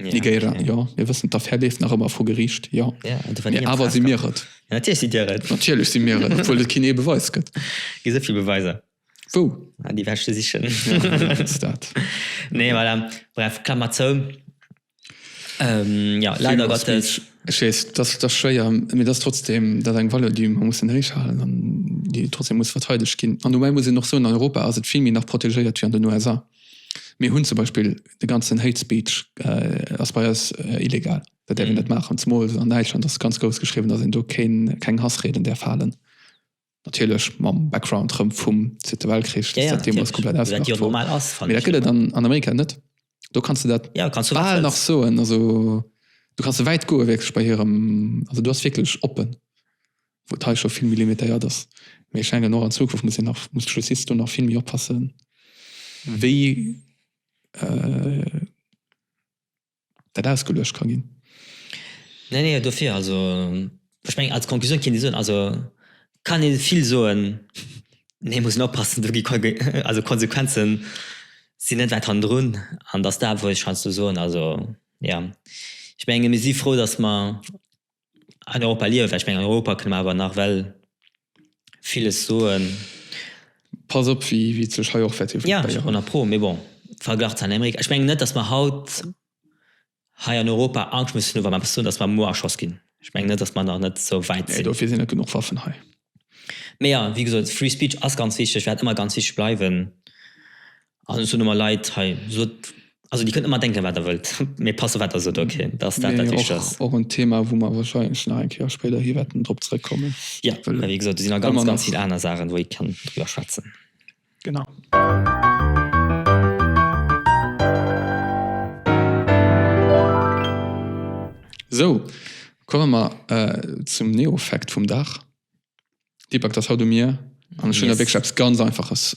Negéiere, jo. Mir wëssen, d'Affär leeft nach ëmmer vu Geriicht, jo. Mee awer si mir et. Natierlech sidd Dir et. Natierlech si mir et, obwuel et keen ee Beweis gëtt. Et gi sou vill Beweiser. Wou? Ah, déi wäerte sichen. Jo, dat ass dat. Nee, voilà. Bref, Klammer zou. Jo, leider Gottes. Ech weess, et ass, et ass schwéier, mee et ass trotzdem, dat ass eng Valeur, déi mer mussen héichhalen an déi trotzdem muss verteidegt ginn. An dobäi muss een och soen, an Europa ass et vill méi nach protegéiert wéi an den USA. Mir hunn zum Beispill de ganzen Hate Speech ass bei eis illegal. Dat däerf een net maachen. Zemol an Däitschland ass ganz grouss geschriwwen, datt een do keen, keng Hassrieden däerf halen. Natierlech mam Background rëm vum Zweete Weltkrich, datt dat deemools komplett ausgemaach gouf. Mee dat gëtt et an Amerika net. Do kanns de dat bal nach soen. Also do kanns de wäit goe wierklech bei hirem, also do ass wierklech oppen. wou et hei scho vill méi limitéiert ass, mee ech denken och an Zukunft muss een nach, muss d'Justiz do nach vill méi oppassen, wéi dat ausgeluecht ka ginn. Nee, nee, dofir, also ech mengen als Conclusioun kéint ee soen, also kann ee vill soen, mee muss een oppassen, do gi, also d'Konsequenze sinn net wäit hannendrun an datt dat wéilt ech heiansdo soen. Also jo, ech menge mir si frou, datt mer, an Europa liewe well ech mengen an Europa kënne mer awer nach well villes soen. Pass op wéi et sech hei och wäert developéieren. Jo, jo, honnert pro, mee bon, verglach zu Amerika, ech mengen net, datt mer haut hei an Europa Angscht mussen hu wa mer eppes soen, datt mer muer erschoss ginn. Ech mengen net, datt mer nach net esou wäit sinn. Nee, dofir sinn net genuch Waffen hei. Mee jo, wéi gesot, free speech ass ganz wichteg, wäert ëmmer ganz wichteg bleiwen. An ech hunn ëmmer Leit hei, sot, also Dir kënnt ëmmer denken, wat Der wëllt, mee passt op, wat Der sot, ok? Dat ass dat, wat wichteg ass. Mee och, och en Thema, wou mer wahrscheinlech nach eng Kéier spéider hi wäerten drop zrëckkommen. Jo, mä wéi gesot, do sinn nach ganz, ganz vill aner Saachen, wou ee kann driwwer schwätzen. Genau. Sou, komme mer zum Neo-Fact vum Dag. Deepak, dat ass haut u mir, an ech hunn da wierklech eppes ganz Einfaches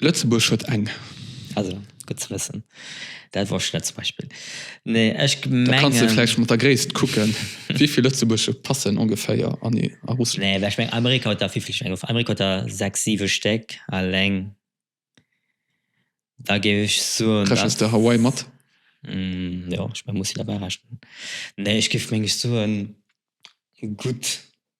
Lëtzebuerg huet eng. Also, gutt ze wëssen. Dat wosst ech net zum Beispill. Nee, ech mengen. Da kanns de vläicht mat der Gréisst kucken, wéi vill Lëtzebuerger passen ongeféier an a Russland. Nee, well ech mengen, Amerika huet der, wéi vill Stäck? Amerika huet der sechs, siwe Stéck alleng. Da géif ech soen. Rechens de Hawaii mat? Jo, ech muss si derbäi rechnen. Nee, ech géif, meng ech, soen, gutt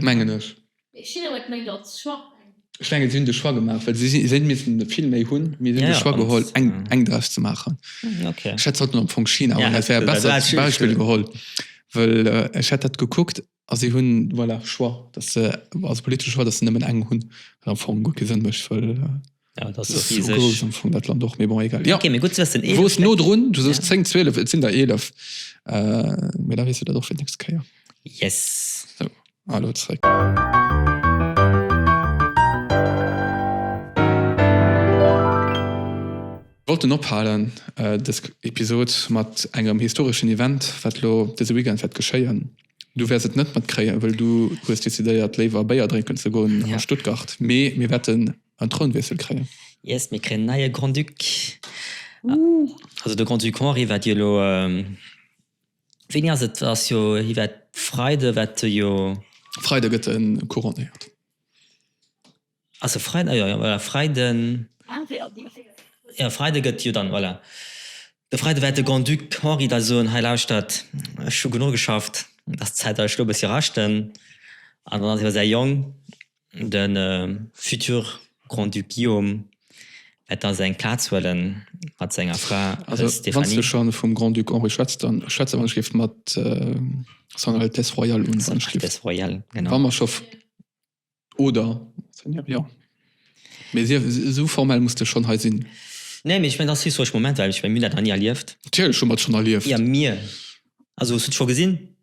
mengen ech. Ech mengen si hunn de Choix gemaach, well si missten der vill méi hunn, mee si hunn de Choix geholl eng draus ze maachen. Ech hätt haut am Fong China als e bessert Beispill geholl, well ech hätt dat gekuckt a si hunn, voilà, Choix, datt se, also politesche Choix, datt se nëmmen eng hunn, wat am Fong gutt kee Sënn mécht, well. Ja, dat ass rieseg. Sou grouss am Fong dat Land och, mee bon, egal. Ja, okay, mee gutt ze wëssen. Du woers no drun, du soos 10, 12, et sinn der 11, mee da weess de dat och fir d'nächst Kéier. Yes. Sou, a lo zréck. Wollt en ophalen dës Episod mat engem historeschen Event, wat lo dëse Weekend wäert geschéien. Du wäers et net matkréien, wëll du hues decidéiert léiwer Béier drénken ze goen a Stuttgart, mee mir wäerten En Trounwiessel kréien. Yes, mir kréien en neie Grand-Duc. Also de Grand-Duc Henri wat jo elo, wéini ass et, ass jo hie wat Freide wat e jo. Freide gëtt e couronnéiert. Ass e Freiden, jo jo voilà Freiden, jo Freide gëtt jo dann, voilà, de Freide wat de Grand-Duc Henri da soen, hei lauschtert, ech hu genuch geschafft, ass Zäit datt ech elo e bëssi raschten an dann ass elo säi Jong. De futur Grand-Duc Guillaume wäert da seng Plaz huele mat senger Fra Stéphanie. Also wann s de scho vum Grand-Duc Henri schwätz, da schwätze wann ech géif mat Son Altesse Royale un. Son Altesse Royale, genau. Wa mer scho, oder? Seigneur, jo. Mee esou formell muss de schonn hei sinn. Nee, mee ech mengen, dat ass historesch Moment, well ech mengen, mir hunn dat nach ni erlieft. Natierlech hu mer et schonn erlieft. Jo, mir. Also hues du et scho gesinn?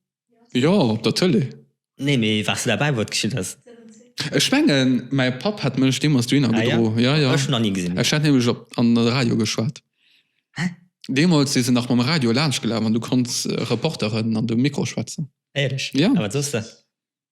Jo, op der Tëlee. Nee, mee wars du derbäi wou et geschitt ass? Ech mengen mäi Papp hätt mech deemools dohinner gedro. Ah jo, ech nach ni gesinn. Ech hätt nämlech op an de Radio geschwat. Hä? Deemools si se nach mam Radio laanschtgelaf an du konnts Reporteren an de Mikro schwätzen. Éierlech? Jo. A wat soss de?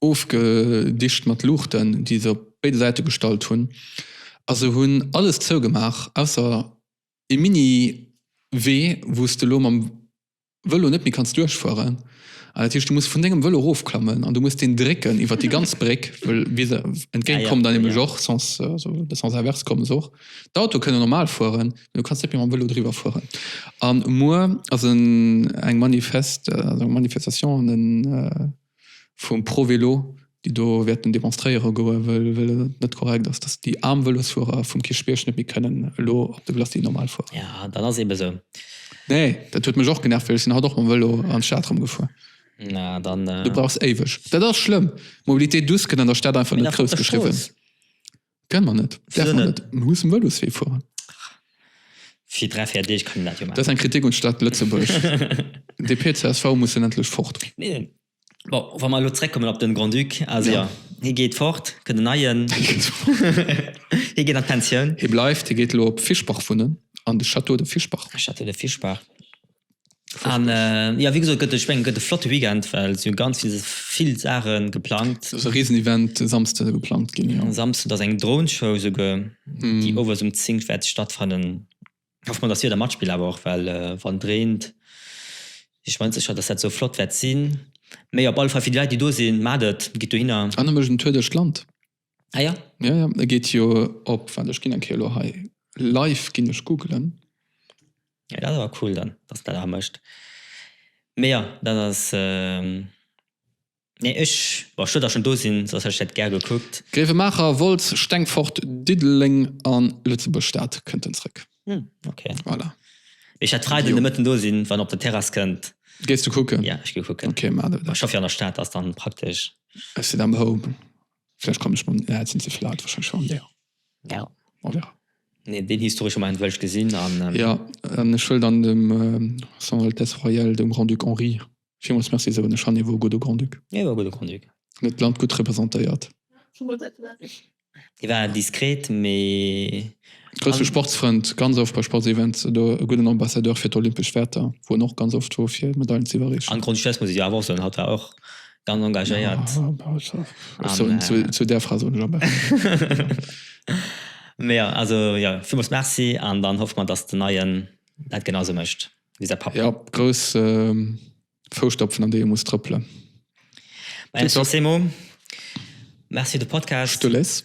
ofgedicht mat Luuchten, déi se op béide Säite gestallt hunn, a se hunn alles zougemaach, ausser ee Mini-Wee, wou s de elo mam Vëlo net méi kanns duerchfueren. An dat heescht, du muss vun dengem Vëlo erofklammen an du muss deen drécken iwwer déi ganz Bréck, wëll bis e entgéint kommen der nämlech och, sens, also de Sens inverse kommen se och. D'Autoe kënne normal fueren, mee du kanns net méi mam Vëlo driwwer fueren. A muer ass en eng Manifest, eng Manifestation an en. vum Pro-Vélo, déi do wäerten demonstréiere goe well et net korrekt ass, datt déi aarm Vëlosfuerer vum Kierchbierg net méi kënnen elo op de Glacis normal fueren. Jo, dat ass eebe esou. Nee, dat huet mech och genervt well ech sinn haut och mam Vëlo an d'Stad erëmgefuer. Na, dann. Du brauchs éiweg. Dat ass schlëmm. Mobilité douce gëtt an der Stad einfach net grouss geschriwwen. Gëllen mer net. Wieso Däerf mer net? net. Mir mussen Vëloswee fueren. Fir dräi, véier Deeg kann een dat jo Dat ass maachen. eng Kritik un d'Stad Lëtzebuerg. DP, csv mussen endlech fort. Nee. Bon, wa mer elo zréckkommen op de Grand-Duc, also jo, hie geet fort, kënnt en neien. Hie geet an d'Pensioun. Hie bleift, hie geet elo op Fischbach wunnen, an de Château de Fischbach. Château de Fischbach. An äh, ja, wie gesagt, gëtt ech meng gëtt e flotte Weekend, well si hu ganz vill, vill Saache geplangt. Ass e riesen Event e Samsde geplangt ginn, jo. Samsden ass eng Droneshow esouguer, déi owes um 10 wäert stattfannen. Hoffe mol, dass d'Wieder matspillt awer och, well wann et reent, si ech mer net sécher, dass dat esou flott wäert sinn. Mee op alle Fall fir déi Leit, déi do sinn, maacht et, gitt dohinner. An e mécht en Tour duerch d'Land. Ah ja? Ja, ja, e geet jo op, waart, ech ginn eng Kéier elo hei live, ginn ech googelen. Ja, dat ass awer cool dann, dass en dat awer mécht. Mee jo, dat ass, nee, ech, bon, ech wëll da schonn do sinn, soss hätt ech dat gär gekuckt. Gréiwemaacher, Wolz, Stengfort, Diddeleng a Lëtzebuerg-Stad kënnt en zrëck. Hm, ok. Voilà. Mee ech hätt Freiden de Mëtten do sinn, wann en op der Terrass kënnt. Gees du kucken? Ja, ech gi kucken. Ok, maach du dat. Ech hoffe jo, an der Stad ass dann praktesch. Ech sinn am Home. Vläicht kann ech man, et sinn ze vill Art wahrscheinlech an där. Ja. On verra. Nee, deen historesche Moment wëll ech gesinn an. Ja, an ech wëll dann dem Son Altesse Royale dem Grand-Duc Henri villmools Merci soen. Ech fannen hie wor e gudde Grand-Duc. Hie wor e gudde Grand-Duc. Hien huet d'Land gutt representéiert. Hie war diskret, mee. Grousse Sportsfrënd, ganz oft bei Sportsevents do. E gudden Ambassadeur fir d'olympesch Wäerter, wou en och ganz oft wor fir Medailen z'iwwerreechen. An Grand-Duchesse muss ech jo awer och soen, hatt war och ganz engagéiert. Zu där Fra soen ech am beschten. Mee jo, also jo, villmools Merci an dann hoffe mer, dass den Neien dat genau sou mécht wéi säi Papp. Jo, grouss Fousstapfen an déi e muss trëppelen. Merci fir de Podcast. Stulez.